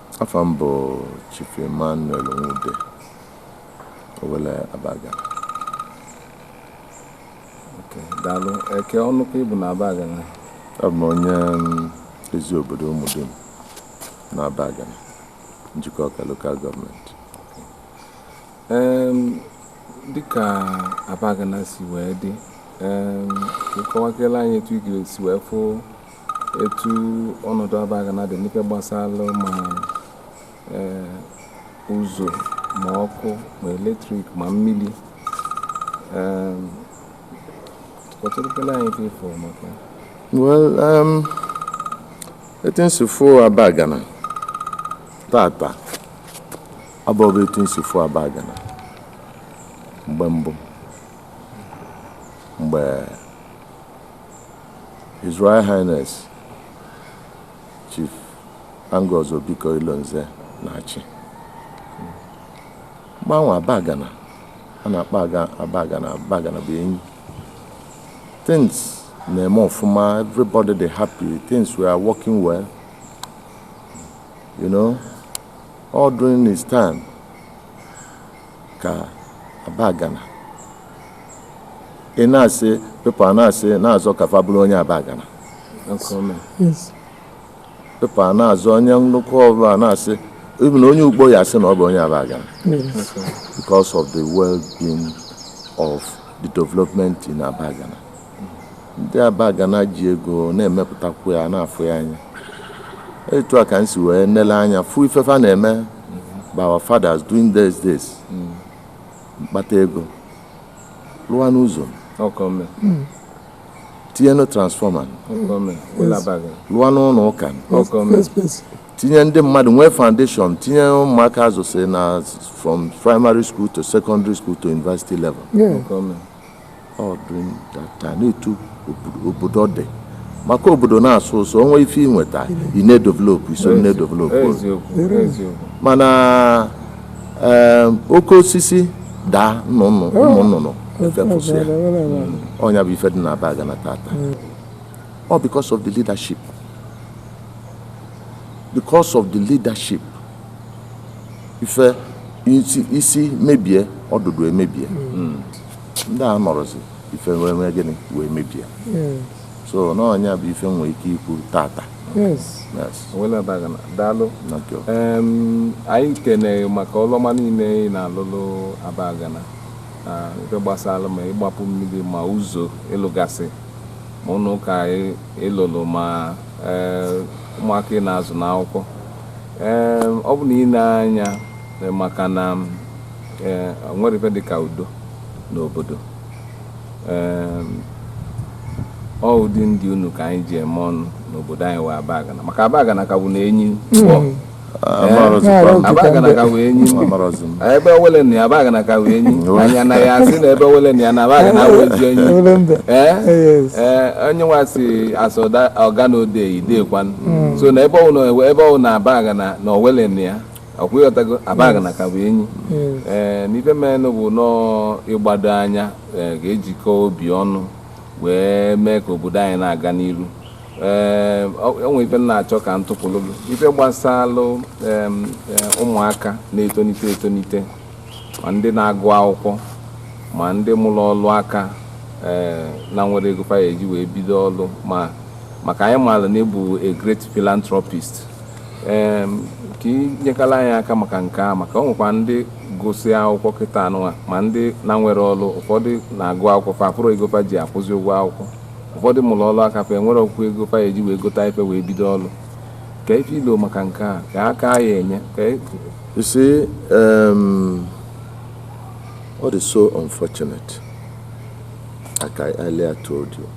Afa m bụ Chief Emmanuel Nwude Owelle Abagana. Okay, daalụ. Kee ọnụ ka ị bụ na Abagana? Abụ m onye mm, ezi obodo Ụmụdunu na Abagana, Njikọka lokal gọọmenti. Em, dịka Abagana si wee dị, em, ị kọwakele anyị etu ị ga-esi wee fụ etu ọnọdụ abagana dị n'ife gbasalụ ma eh, ụzọ ma ọkụ ma elektrik ma mmili kọtụrụkele anyị ife ị fụ maka well um, etu nsụfụ abagana tata abụghị etu nsụfụ abagana mgbe mbụ mgbe His Royal Highness Chief Angus Obiko Ilonze na-achị mgbe anwa abagana a na-akpọ abagana abagana bụ enyi things na-eme ọfụma everybody dey happy things were working well you know all during his time ka abagana ị na-asị people na-asị na-azọ ka fa bụrụ onye abagana people na-azọ onye Dunukofia na-asị even onye Ukpo ya asị na ọ bụ onye abagana because of the well-being of the development in abagana ndị abagana ji ego na-emepụtakwu ya na-afụ ya anya etu a ka m si wee nele anya fụ ife fa na-eme bụ our fathers during those days m kpata ego lụa n'ụzọ tinye na transformer lụa n'ụnọ ụka tinye ndị mmadụ nwee foundation tinye ụmụaka azụsị na from primary school to secondary school to university level ọ dị m tata na etu obodo dị maka obodo na-asọ ụsọ o nwee ife i nweta ị na-edevelopụ i so na-edevelopụ mana oke osisi daa ụmụ nnụnụ efepụsịa ọ nya bụ ife dị n'abagana tata ọ because of the leadership because of the leadership ife isi mebie ọdụdụ emebie hmm. ndị anọrọzi ife wee mee gịnị wee mebie hmm. so na ọ nya bụ ife e nwee ike ikwu tata owelle abagana daalụ anyị na-ekene gị maka ọlụ ọma niine ị na-alụlụ abagana ife gbasara ma ịgbapụ mmiri ma ụzọ ị lụgasị ma ụnọ ụka ị lụlụ ma eh, ụmụaka ị na-azụ n'akwụkwọ ọ bụ n'ine anya eh, maka na enwerọ ife dị ka udo n'obodo ọ ụdị ndị unu ka anyị ji eme ọnụ n'obodo anyị wụ abagana maka abagana ka bụ na enyi abagana ka wụ enyi ebe owelle nọ ya abagana ka wụ enyi anya na ya asị na ebe owelle nọ ya na abagana wụ enyi onye nwa si asụ ọga na ode idekwan hmm. so na ebe ọ wụ n'abagana na owelle nọ ya ọkwa ị ghọtago abagana ka bụ enyi hmm. ee eh, na ife menụ bụ na ị gbado anya a ga-ejikọ obi ọnụ wee mee ka obodo anyị na-aga n'iru ee eh, o nwee ife m na-achọ ka m tụpụlụ gị ife gbasalụ ụmụaka na-etonite etonite ma ndị na-agụ akwụkwọ ma ndị mụrụ ọlụ aka ee eh, na-enwerọ ego fa eji wee bido ọlụ ma maka anyị maara na ị bụ a great philanthropist ee ka i nyekwalụ anyị aka maka nke a maka o nwekwa ndị gụsị akwụkwọ kịtaa nụnwa ma ndị na-enwerọ ọrụ ụfọdụ na-agụ akwụkwọ fa afụrọ ego fa ji akwụzi ụgwọ akwụkwọ ụfọdụ mụrụ ọrụ aka fa enwerọkwu ego fa eji wee gota ife wee bido ọrụ kee ife i lo maka nke a kee aka ị ya-enye ka e- You see, um, what is so unfortunate, like I earlier told you,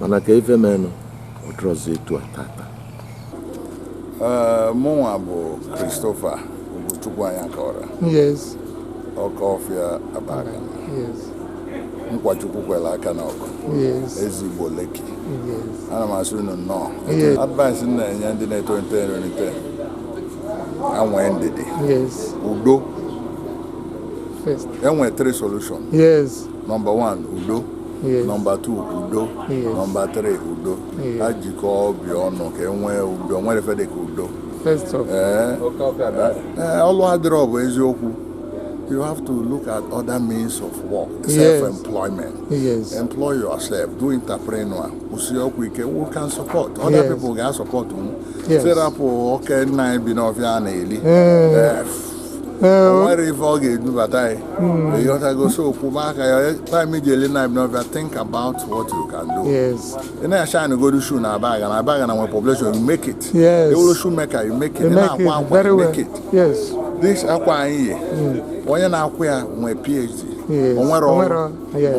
mana ka ife menụ ọ dịrọzi etu a tata Ee, mụnwa bụ Christopher Ugochukwu Anyakọra Yes, ọka ọfịa abagana yes, nkwa chukwu kwere aka n'ọkụ yes, eze igbo Lekki yes. ana m asị unu nnọọ Yes. advice m na-enye ndị na-etolite etolite ha nwee ndidi Yes, udo first. e nwere three solution Yes. nọmba 1 udo Yes. nọmba 2 udo Yes. nọmba 3 udo Yes. ha jikọọ obi ọnụ ka e nwee udo o nwerọ ife dị ka udo First of ee ee, ọlụ adịrọ ọ bụ eziokwu you have to look at other means of work Yes. self-employment yes. employ yourself do entrepreneur kwụsie ụkwụ ike who can support other Yes. people ga-asupport m Yes. sị rapụ oke nna anyị bi n'ọfịa a na-eli Mm. Eh, Eh, o nwerọ ife ọ ga-edubata anyị hmm. ị ghọtago so kwụba aka ya time ji ele na bịa think about what you can do ị na-ashine godu shoe na abagana abagana nwere population you make it ị bụrụ shoe maker you make it ị na-akwa akwa you make it this akwa anyị yi hmm. onye na-akwa ya nwee phd o nwerọ ọrụ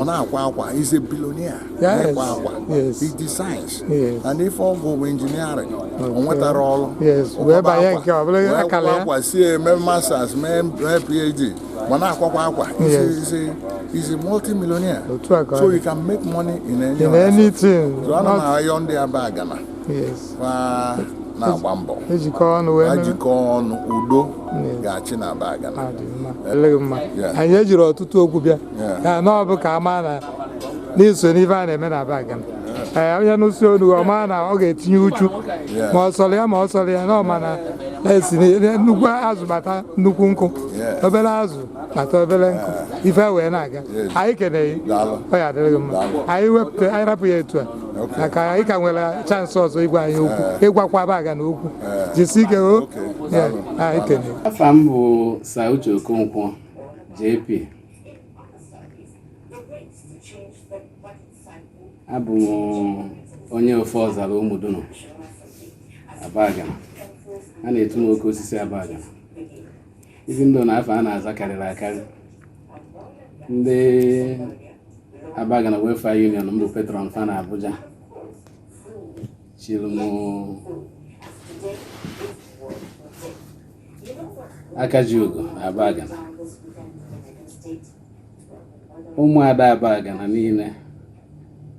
ọ na-akwa akwa he's a billionaire Yes. ịkwa akwa Yes. iji science Yes. na ife ọ gụrụ bụ engineering o nwetarọ ọrụ Yes, Ọ wee kwaba banye akwa, nke ọ bụla wee akala kwaba ya. akwa sie mee masters mee mee phd ma na-akwakwa akwa Yes. He's a- he's a multimillionaire Otu a ka ọ so dị. you can make money in any in other anything so ana m nnọọ ayọ ndị abagana yes ma na-agba mbọ ejikọ ọnụ wee ha mere jikọọ ọnụ udo Yes. ga-achị na abagana adị mma ọ dịrị gị mma Yeah. anyị ejirọ ọtụtụ okwu bịa Yeah. kama ọ bụ ka a maa na na i so n'ife a na-eme na abagana onye nụsịa onu ọ maa na ọ ga-etinye uchu ma ọ sọrọ ya ma ọ sọrọ ya na ọ ma na a sị na nnukwu azụ kpata nnukwu nkụ Yeah. obere azụ kpata obere nkụ ife wee na-aga Yes. anyị ekene gị Daalụ. ọ ya-adịrị gị mma Daalụ. anyị wepụta anyị rapụ ya etu a Okay. maka anyị ka nwere chance ọzọ ịgwa anyị okwu ịgwakwa abagana okwu jisi ike o Okay. Yeah, Daalụ. anyị ekene gị afa m bụ Sir Uche Okonkwo JP abụ m onye ofe ọzara ụmụdunu abagana a na-etu m oke osisi abagana ife dị na afa a na-aza karịrị akarị ndị abagana welfare union m bụ patron fa na abuja chiri m aka ji ugo na abagana ụmụada abagana niile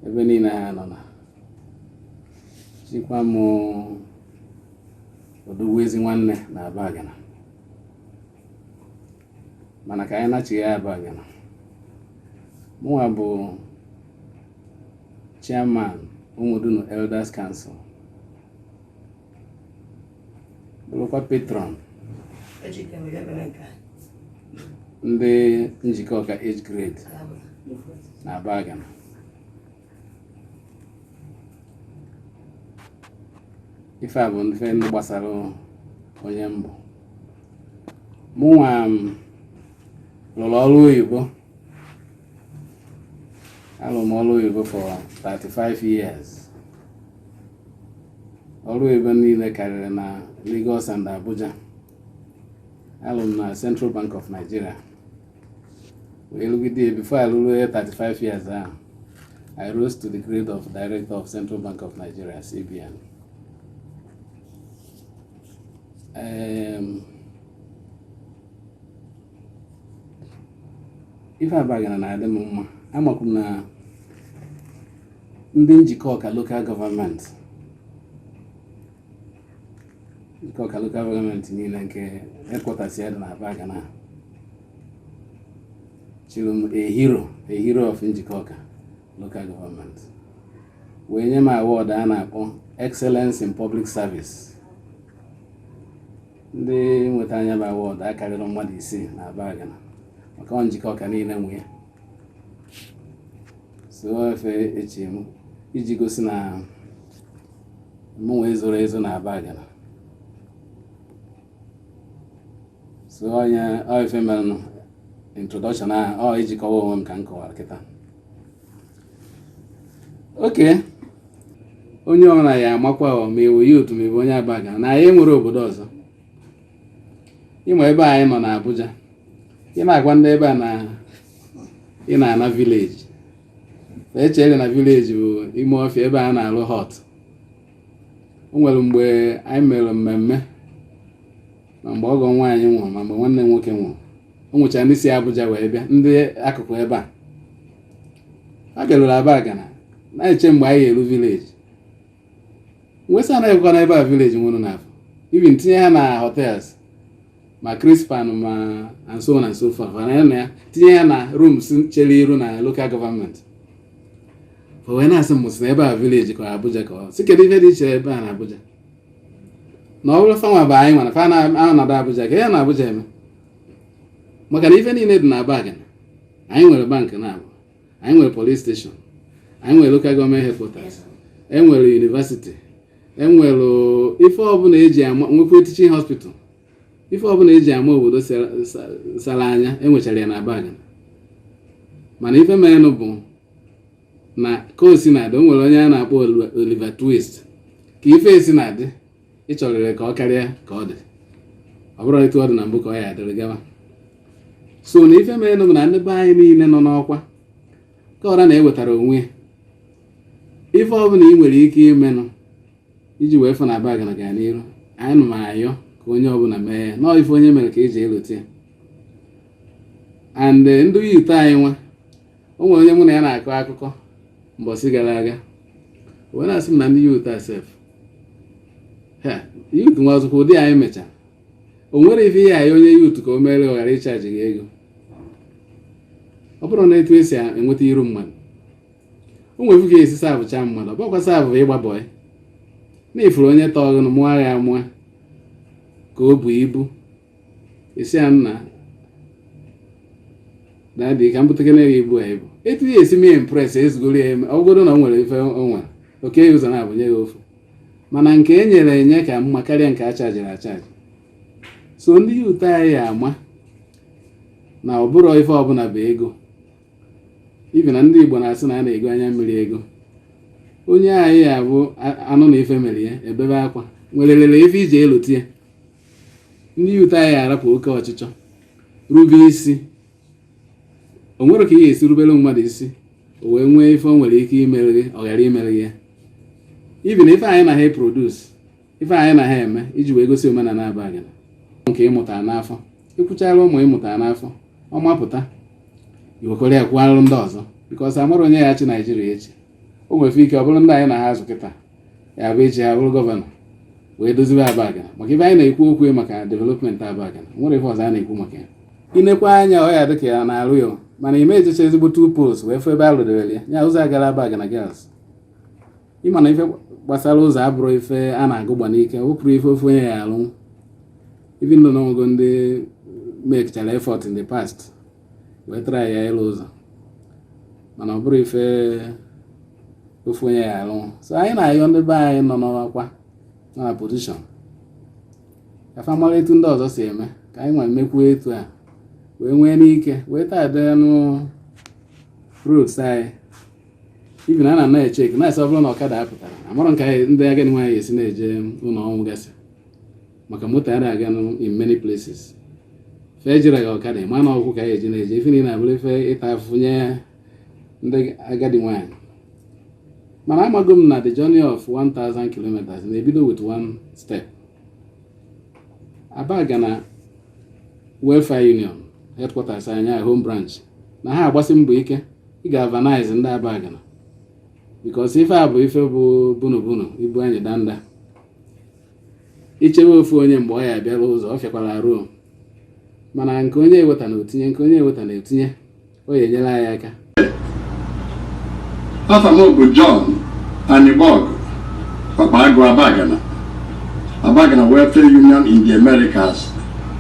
ebe niile ha nọ na chikwa m odogwu ezi nwanne na abagana mana ka anyị nachighaa abagana mụnwa bụ chairman ụmụdunu elders council bụrụkwa patron ndị Njikọka age grade na Abagana ife a bụ ndị ndị gbasara onye m bụ mụnwa lụrụ ọrụ oyibo Alụ m ọrụ oyibo for 35 years. Ọrụ oyibo niile karịrị na Lagos and Abuja. Alụ m na Central Bank of Nigeria. Wee lụgide ya before I lụrụ ya 35 years ahụ. I rose to the grade of Director of Central Bank of Nigeria, CBN. Um, ife abagana na-adị m mma amakwu m na ndị njikọka local government njikọka local government niile nke headquarters ya dị na abagana chiri m a hero a hero of njikọka local government wee nye m award a na-akpọ excellence in public service ndị nweta nya bụ award akarịrọ mmadụ isii na Abagana maka ọ Njikọka niile nwe ya so ọ ife e chi m iji gosi na mụnwa ezorọ ezo na Abagana so ọ ife merenụ introduction ahụ ọ iji kọwaa onwe m ka m kọwara kịta oke onye ọbụla ya amakwa ma ewu ya otu ma ewu onye abagana anyị nwere obodo ọzọ ị ma ebe anyị nọ na Abuja ị na-agwa ndị ebe a na ị na-ana village echere na village bụ ime ọfịa ebe a na-alụ hut o nwere mgbe anyị mere mmemme ma mgbe ọgọ nwaanyị nwụrụ ma mgbe nwanne nwoke nwụrụ o nwechara ndị si Abuja wee bịa ndị akụkụ ebe a ha bịaruru abagana na-eche mgbe anyị ga-eru village nwesa anaghịkwa na ebe a village nwụrụ n'afọ ibi m tinye ha na hotels ma crispan ma and so on and so forth na ya na ya tinye ya na rooms chere iru na local government o wee na-asị m sị na ebe a village ka Abuja ka ọ sị kedu ihe dị iche ebe a na Abuja na ọ bụrụ fanwa bụ anyị mana fa na-anọdụ Abuja ka ya na Abuja eme maka na ife niile dị na Abagana anyị nwere bank na Aba anyị nwere police station anyị nwere local government headquarters enwere university enwere ife ọbụla eji ama nwekwa teaching hospital ife ọbụla eji ama obodo sara anya enwechara ya na Abagana mana ife merenụ bụ ma ka o si na-adị o nwere onye a na-akpọ Oliver Twist ka ife esi na-adị ịchọrịrị ka ọ karịa ka ọ dị ọ bụrụ etu ọ dị na mbụ ka ọ ya adịrị gawa so na ife mere bụ na ndị be anyị niile nọ n'ọkwa ka ọra na-ewetara onwe ife ọbụla ị nwere ike imenụ iji wee fụ na Abagana gaa n'iru anyị nụ ma ayọ ka onye ọbụla mee ya nọọ ife onye mere ka eji elote ya and eh, ndị youth anyị nwa o nwere onye mụ na ya na-akọ akụkọ mbọsị gara aga wee na-asị m na ndị youth asef youth nwa ọzụkwa ụdị anyị mecha o nwere ife i nye onye youth ka o mere ọ ghara ịchaji gị ego ọ bụrụ na etu esi enweta iru mmadụ o nwere ka ị ga-esi serve chaa mmadụ ọ bụkwa serve bụ ịgba bọị na ị fụrụ onye tọọ gị na mụọ ya amụọ ka o bu ibu ị sị ya nna dadi ka m butakene gị ibu a ibu etu ya esi mee impress ezigoro ya eme ọ bụgodu na o nwere ife o nwere o kee ụzọ naabọ nye gị ofu mana nke e nyere enye ka mma karịa nke a chajiri achaji so ndị youth anyị ya ama na ọ bụrọ ife ọbụla bụ ego ibi na ndị igbo na-asị na a na-ego anya mmiri ego onye anyị ya bụ a- anụ na ife mere ya ebebe akwa nwerịrị ife eji elote ya ndị youth anyị arapụ oke ọchịchọ rube isi o nwere ka ị ga-esi rubere mmadụ isi o wee nwee ife o nwere ike imere gị ọ ghara imere gị ya ibi na ife anyị na ha e-produce ife anyị na ha eme iji wee gosi omenala abụrọ nke ị mụta n'afọ ị kwụchara ụmụ ị mụta n'afọ ọ mapụta iwekwere ya kwụọ ndị ọzọ because amarọ onye ya-achị Nigeria echi o nwere ike ọ bụrụ ndị anyị na ha azụ kịta ya bụ echi ha bụrụ governor wee dozibe Abagana maka ebe anyị na-ekwu okwu maka development Abagana nwere ofu ụzọ a na-ekwu maka ya i nekwaa anya ọ ya-adị ka a na-arụ ya mana ị ma ejecha ezigbo two poles wee fụ ebe a rụdebere ya ya ụzọ a gara Abagana Girls ị ma na ife gbasara ụzọ abụrọ ife a na-agụ gba n'ike ọ bụrọ ife ofu onye ya-alụ even though na o nwego ndị mekchara effort in the past wee tara ya ịlụ ụzọ mana ọ bụrọ ife ofu onye ya alụ so anyị na-ayọ ndị be anyị nọ n'ọkwa nọ na position ka fa mara etu ndị ọzọ si eme ka anyị wee mekwuo etu a wee nwee ike wee tar denụ roads anyị even ana m echekwa na asị ọ bụrụ na ọkada apụtara amarọ ka ndị agadi nwaanyị esi na-eje ụnọ ọnwụ gasị maka moto a na-aga in many places fe ejere gị ọkada ị ma na ụkwụ ka a ya-eji na-eje ife niile abụrụ ife ịta afụfụ nye ndị agadi nwaanyị mana amago m na the journey of 1000 kilometers na-ebido with one step Abagana Welfare Union headquarters anyị home branch na ha agbasi mbọ ike ịgalvanize ndị Abagana because ife a bụ ife bụ bunu bunu ibu anyị danda i chewe ofu onye mgbe ọ ya abịara ụzọ ọ fịakwara arụ o mana nke onye eweta na o tinye nke onye eweta na etinye ọ ya enyere anyị aka afa m bụ John Anigbogu Ọkpagụ Abagana Abagana Welfare Union in the Americas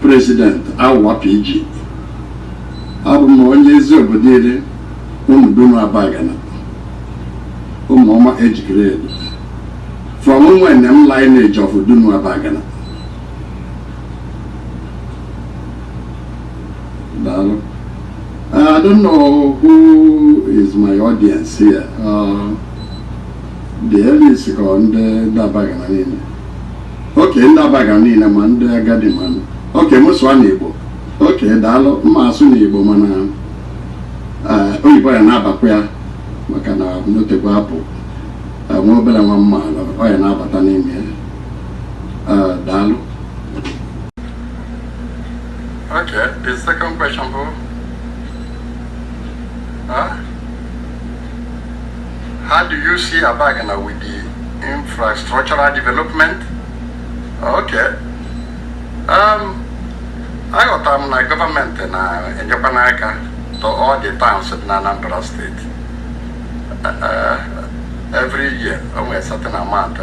President AWUA PG abụ m onye ezi obodo iri Ụmụdunu Abagana ụmụọma ejikere edo From Nwenem lineage of Dunu Abagana. Daalụ. Uh, I don't know who is my audience here. Uh, the elites ka ọ ndị Abagana niile. Okay ndị Abagana niile ma ndị agadi ma ndị. Okay m sụọ n'Igbo. Okay daalụ m ma-asụ n'Igbo mana uh, oyibo ya na-abakwa ya maka na o tekwa apụ nwa obele nwa mana ọ ya na-abata n'ime ya daalụ Okay, the second question bụ, Huh? How do you see Abagana with the infrastructural development? Okay. Um, aghọta m na government na-enyekwanụ aka to all the towns dị na Anambra State. every year o nwere certain amount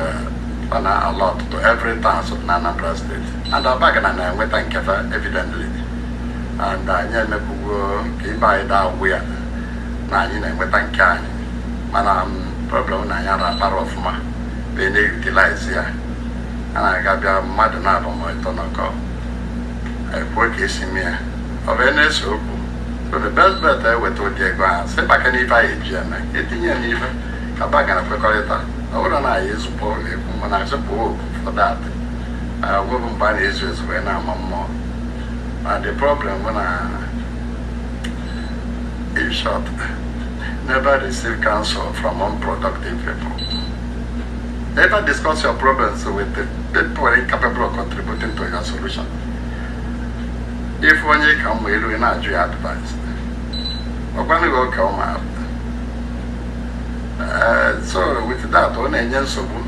ọ na-allot to every town so na Anambra State and Abagana na-enweta nke fa evidently and anyị emepụgo ka ibe anyị daa ụgwụ ya na anyị na-enweta nke anyị mana problem na anyị ara akpara ọfụma wee na-utilize ya a na-aga bịa mmadụ naabọ ma ịtọ nọkọ ekwuo ka esi mee ya ọ bụ na-ese okwu President eweta ụdị ego ahụ sị maka na ife anyị eji eme etinye ya n'ife ka ba gara kwekọrịta ọ bụrụ na anyị ezukọ na-ekwu mana azụpụ oku for that nwebụ mgbe a na-ezu ezu wee na-ama mmụọ na the problem bụ na in short never receive counsel from unproductive people never discuss your problems with the people incapable of contributing to your solution ịfụ onye ị ka mma elu ị na-ajụ ya advice ọkwanụ gị ọka ụma so with that ọ na-enye nsogbu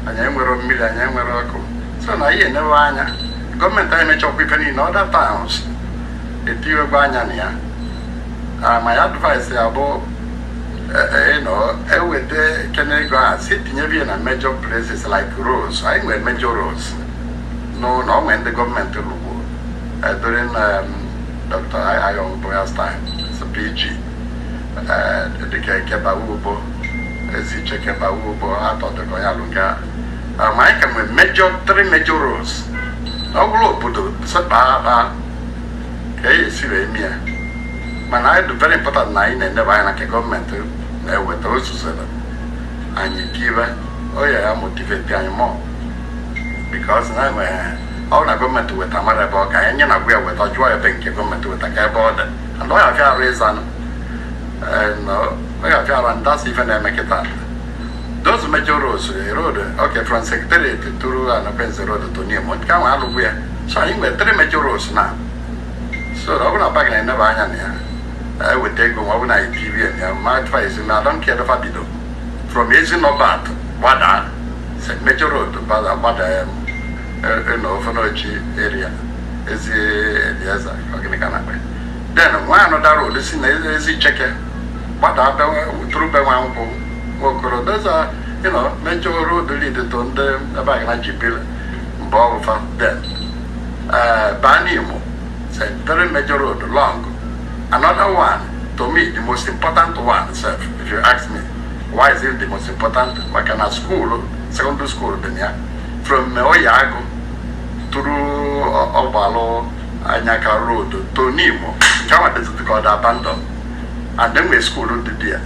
anyị enwerọ mmiri anyị enwerọ ọkụ so na ihe enewe anya gọọmenti anyị mechakwa ife niile other towns etinyegwo anya na ya my advice ya bụ you know eweta kene ego a si tinyebe ya na major places like roads anyị nwere major roads n'ụlọ o nwe ndị gọọmenti lụgwo edori na dọkịta ayọ boyastin PG dịka Eke bawa ugbo Ezi Icheke bawa ugbo atọ dịka ya lụga ma anyị ka nwere major three major roads ọ bụrụ obodo sekpa akpa ka e esi wee mie mana anyị dị very important na anyị na-enebe anya na nke gọọmenti na-eweta ozuzere anyị kibe ọ ya ya motivate anyị more because ha nwere ọ na gọọmenti weta mara ebe ọ ka anyị nye na gwa ya weta jụọ ebe nke gọọmenti weta ka ebe ọ dị and ọ ya afịa arụ ịzanụ ọ ya afịa arụ ndasị ife na-eme kịta those major roads road okay from secretariat through Anakwenze road to Nimo nke ahụ alụgwo ya so anyị nwere three major roads na so ọ bụrụ na Abagana eneba anya na ya anyị weta ego ma ọ bụrụ na anyị pvn ya my advice na adọnke edofa bido from Ezi Norbert gbadaa St. Major Road gbada gbada ya e, e, na ofenochi area Ezi Elieza ọgịnị ka na-akpa then nwee another road si na Ezi Icheke gbada through be Nwankwọ Nwokoro there's a you know major road lead to ndị Abagana ji biri mgbe ọ bụfa then baa Nimo three Major Road long another one to me the most important one sef if you ask me Why is it the most important? Maka na skuulu sekọndịrị skuulu dị na ya from Oyeagu through Ọgbalụ Anyaka road to Nimo nke ahụ dịzị ka ọ dị abandon and enwe skuulu dị dị ya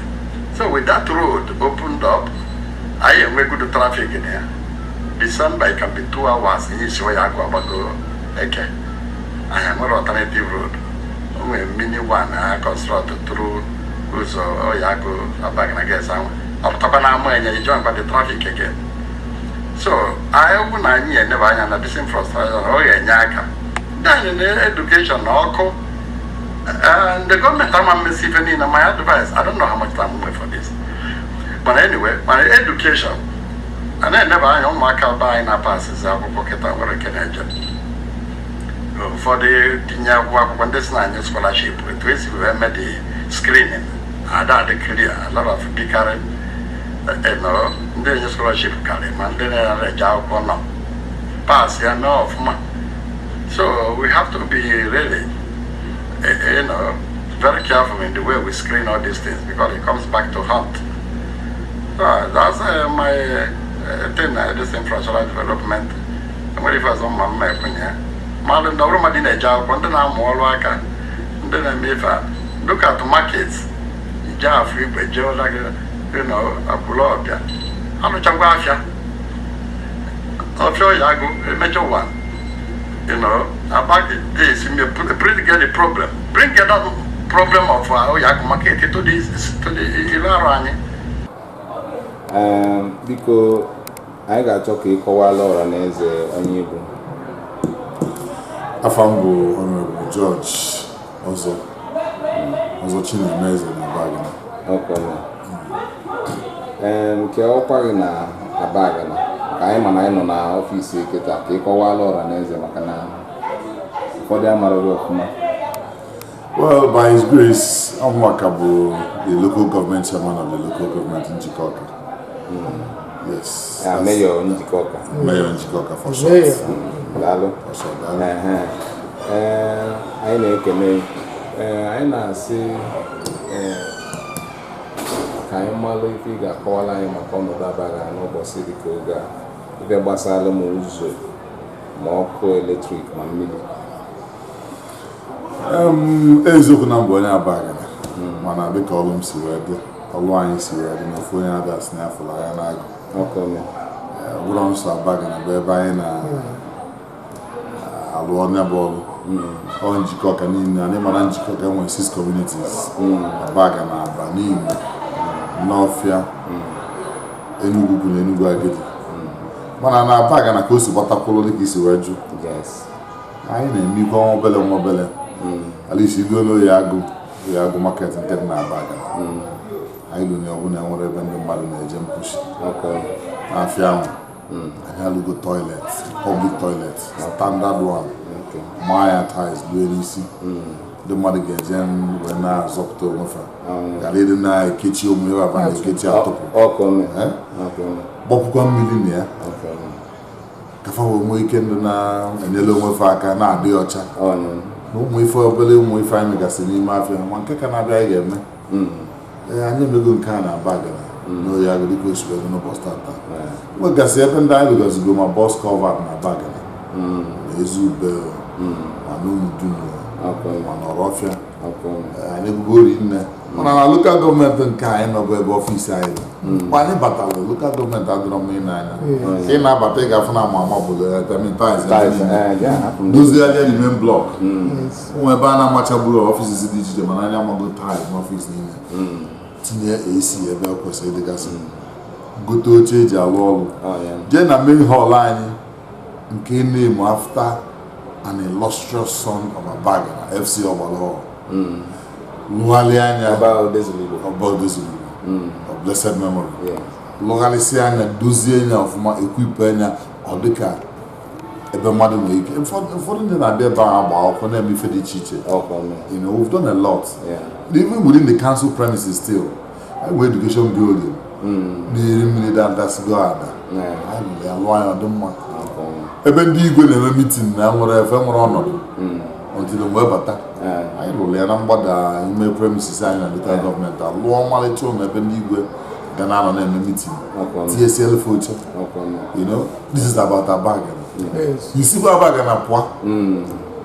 so with that road opened up anyị enwe good traffic na ya December it can be two hours iji esi Oyeagu agbago Eke anyị nwere alternative road o nwere mini one a construct through ụzọ Oye Agụ Abagana gas ahụ ọ pụtakwa na ama enye ijọ mkpa dị traffic again so anyị bụ na anyị eneba anya na this infrastructure ọ ga-enye aka then na education na ọkụ ndị gọọmenti ama emesi ife niile my advice I don't know how much time we for this mana anyway mana education a na-eneba anya ụmụaka be anyị na-apasizi akwụkwọ kịta nwere nke na-eje ụfọdụ tinye akwụkwọ akwụkwọ ndị si na-enye scholarship etu esi wee mee the screening ada adị clear a lot of dịkarị eno ndị enye scholarship karị ma ndị na-ere eje akwụkwọ nọ pass ya mee ọfụma so we have to be really eh, eh, you know very careful in the way we screen all these things because it comes back to haunt so that's uh, my uh, thing uh, this infrastructure development nwere ife ọzọ mma mma ekwenye ya mmadụ ndị ọrụ mmadụ na-eje akwụkwọ ndị na-amụ ọrụ aka ndị na-eme ife a dịka atụ market ije Afọ Igwe jee ụla gị dị na akwụrụ ọbịa alụchakwa afịa afịa Oye Agụ emejọ ụwa you know about this you may put- bring get the problem bring get that problem of uh, Oye Agụ market to this to the ilu arụ anyị Ee, biko Anyị ga-achọ ka ị kọwala ọra na eze onye ị bụ. Afa m bụ Honorable George Ọzọ Ọzọ Chinemeze na Abagana. Okay. Em, Nke ọkwa gị na Abagana ka anyị ma na anyị nọ na ọfịs kịta ka ị kọwala ọra na eze maka na ụfọdụ amaraghị ọfụma. Well, by His grace, ọ mụwa ka bụ the local government chairman of the local government Njikọka. Mm. Yes. Uh, Mayor Njikọka. Mm. Mayor Njikọka for short. Mayor. Daalụ. For short, daalụ. Anyị na-ekele, anyị na-asị ka anyị malụ ife ị ga-akọwala anyị maka ọnọdụ Abagana n'ụbọsị dịka oge a ife gbasara ma ụzọ ma ọkụ eletrik ma mmiri eziokwu na m bụ onye Abagana mana dịka ọlụ m si wee dị ọlụ anyị si wee dị n'ofu onye ada si na afụla ya n'agụ ọ bụrọ nsọ Abagana bụ ebe anyị na-alụ nya bụ ọlụ ọ Njikọka niile anyị ma na Njikọka nwere six communities Abagana Abba Nimo Nawfia Enugwu-Ukwu na Enugwu-Agidi mana na Abagana ka o si gbatakwụrụ dịka i si wee jụọ anyị na-emekwa nwa obele nwa obele hmm. alisi ị gaa n'Oye Agụ Oye Agụ market nke dị n'Abagana hmm. anyị lụnye ọbụla nwerọ ebe ndị mmadụ na-eje mposi n'afịa ahụ hmm. anyị alụgo toilet public toilet standard one maa ya tiles lue n'isi ndị mmadụ ga-eje wee na-azọpụta onwe fa ghara ịdị na-ekechi omume ebe aba na-ekechi atụpụ gbapụkwa mmiri na ya ka fa wee nwee ike ịdị na-enyere onwe fa aka na-adị ọcha na ụmụ obele ụmụ ife anyị megasị n'ime afịa ma nke ka na-abịa anyị ga-eme hmm. ee anyị emego nke Abagana hmm. n'Oye Agụ dịka osi wee n'ụbọchị tata nwegasị ebe ndị anyị rụgasịgo ma box culvert n'Abagana hmm. ma Ezi Ube ma n'Ụmụdunu ma n'Ọrọfịa anyị alụgo rinne mana na lokal gọọmenti nke anyị nọ bụ ebe ọfisi anyị nọ hmm. mgbe anyị batara lokal gọọmenti adịrọ mma ine anya hmm. ị na-abata ị ga-afụ na ama ama obodo ya dozigharịa n'ime blọk ụmụ ebe a na-amachaburu ọfisi dị iche iche mana anyị amago tile n'ọfisi niile hmm. tinye AC ebe ọ kwesịrị dịgasị gote oche e ji alụ ọrụ jee na main hall anyị nke e name-ụ after an illustrious son of Abagana FC Ọgbalụ Hall lụgharịa nya Ọba Odezulu Igbo. ọba odezuru of blessed memory Yes. lụgharịsịa nya dozie nya ọfụma equip-ụa nya ọ dịka ebe mmadụ nwere ike ụfọdụ ụfọdụ ndị na-abịa ebe ahụ agba akwụkwọ na-eme ife dị iche iche Ọkwa ọnụ. you know we've done a lot Yeah. even within the council premises still e nwee education building na-eri mmiri dadasịgo ada alụa nya ọ dị mma ebe ndị igwe na-eme meeting na nwere efe nwere ọnọdụ ọdịda mgbe bata anyị lụrụ ya na mgbada ime premises anyị na lokal gọọmenti alụọ ọmalịcha ụlọ ebe ndị igwe ga na-anọ na-eme meeting tinyesịlụ fa oche you know this is about Abagana i sikwa Abagana pụa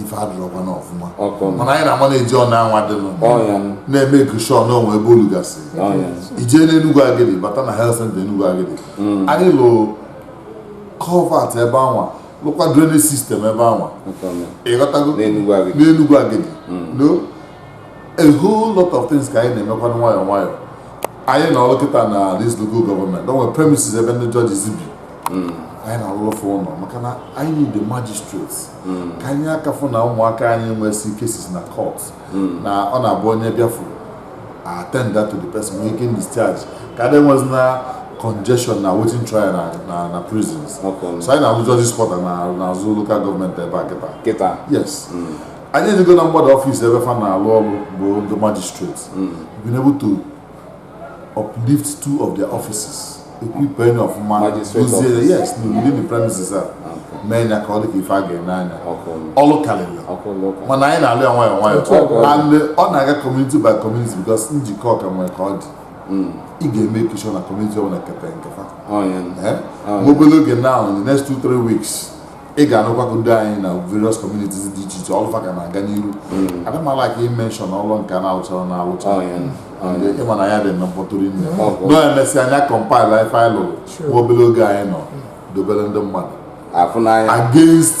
ife adịrọkwa n'ọfụma mana anyị na-ama na-eji ọnụ anwa dịnụ na-emake sure na o nwee ebe o lugasị i jee n'Enugu Agidi bata na health center Enugu Agidi mm. anyị lụrụ culvert ebe anwa lụkwa drainage system ebe anwa ị ghọtago n'Enugu Agidi mm. no a whole lot of things ka anyị na-emekwa nwayọọ nwayọọ anyị nọ kịta na this local government o nwerọ premises ebe ndị judges bi mm. anyị na-alụlụ fa ụlọ maka na anyị need the magistrates hmm. ka anyị aka fụ na ụmụaka anyị nwesị cases na court hmm. na ọ na-abụ onye bịa fa attend that to the person nwee ike discharge ka adị enwezina congestion na awaiting trial na na na prisons so anyị na-alụ judges quarter n'azụ local gọọmenti ebe a kịta kịta yes hmm. anyị edozigo na mgbada ọfịs ebe fa na-alụ ọrụ bụ ndị magistrate been able to uplift two of their offices equip nya ọfụma dozie yes within the premises a mee nya ka ọ dị ka ife a ga-ene anya ọlụ karịrị mana anyị na-alụ ya nwayọ nwayọ and ọ na-aga community by community because Njikọka nwere ka ọ dị hmm. ị ga-emake sure na community ọbụla kete nke fa oh, eh? obere oge now in the next two three weeks ị ga-anụkwa ụdụ anyị na various communities dị iche iche ọlụ fa ga na-aga n'iru hmm. a da amala aka emention ọlụ nke a na-alụchara na alụcha oh, oh, ị ma na anyị adị eme mkpọtụ rinne oh, na e mesịa anyị acompile ife anyị lụrụ nwa obere oge anyị nọ hmm. dobere ndị mmadụ against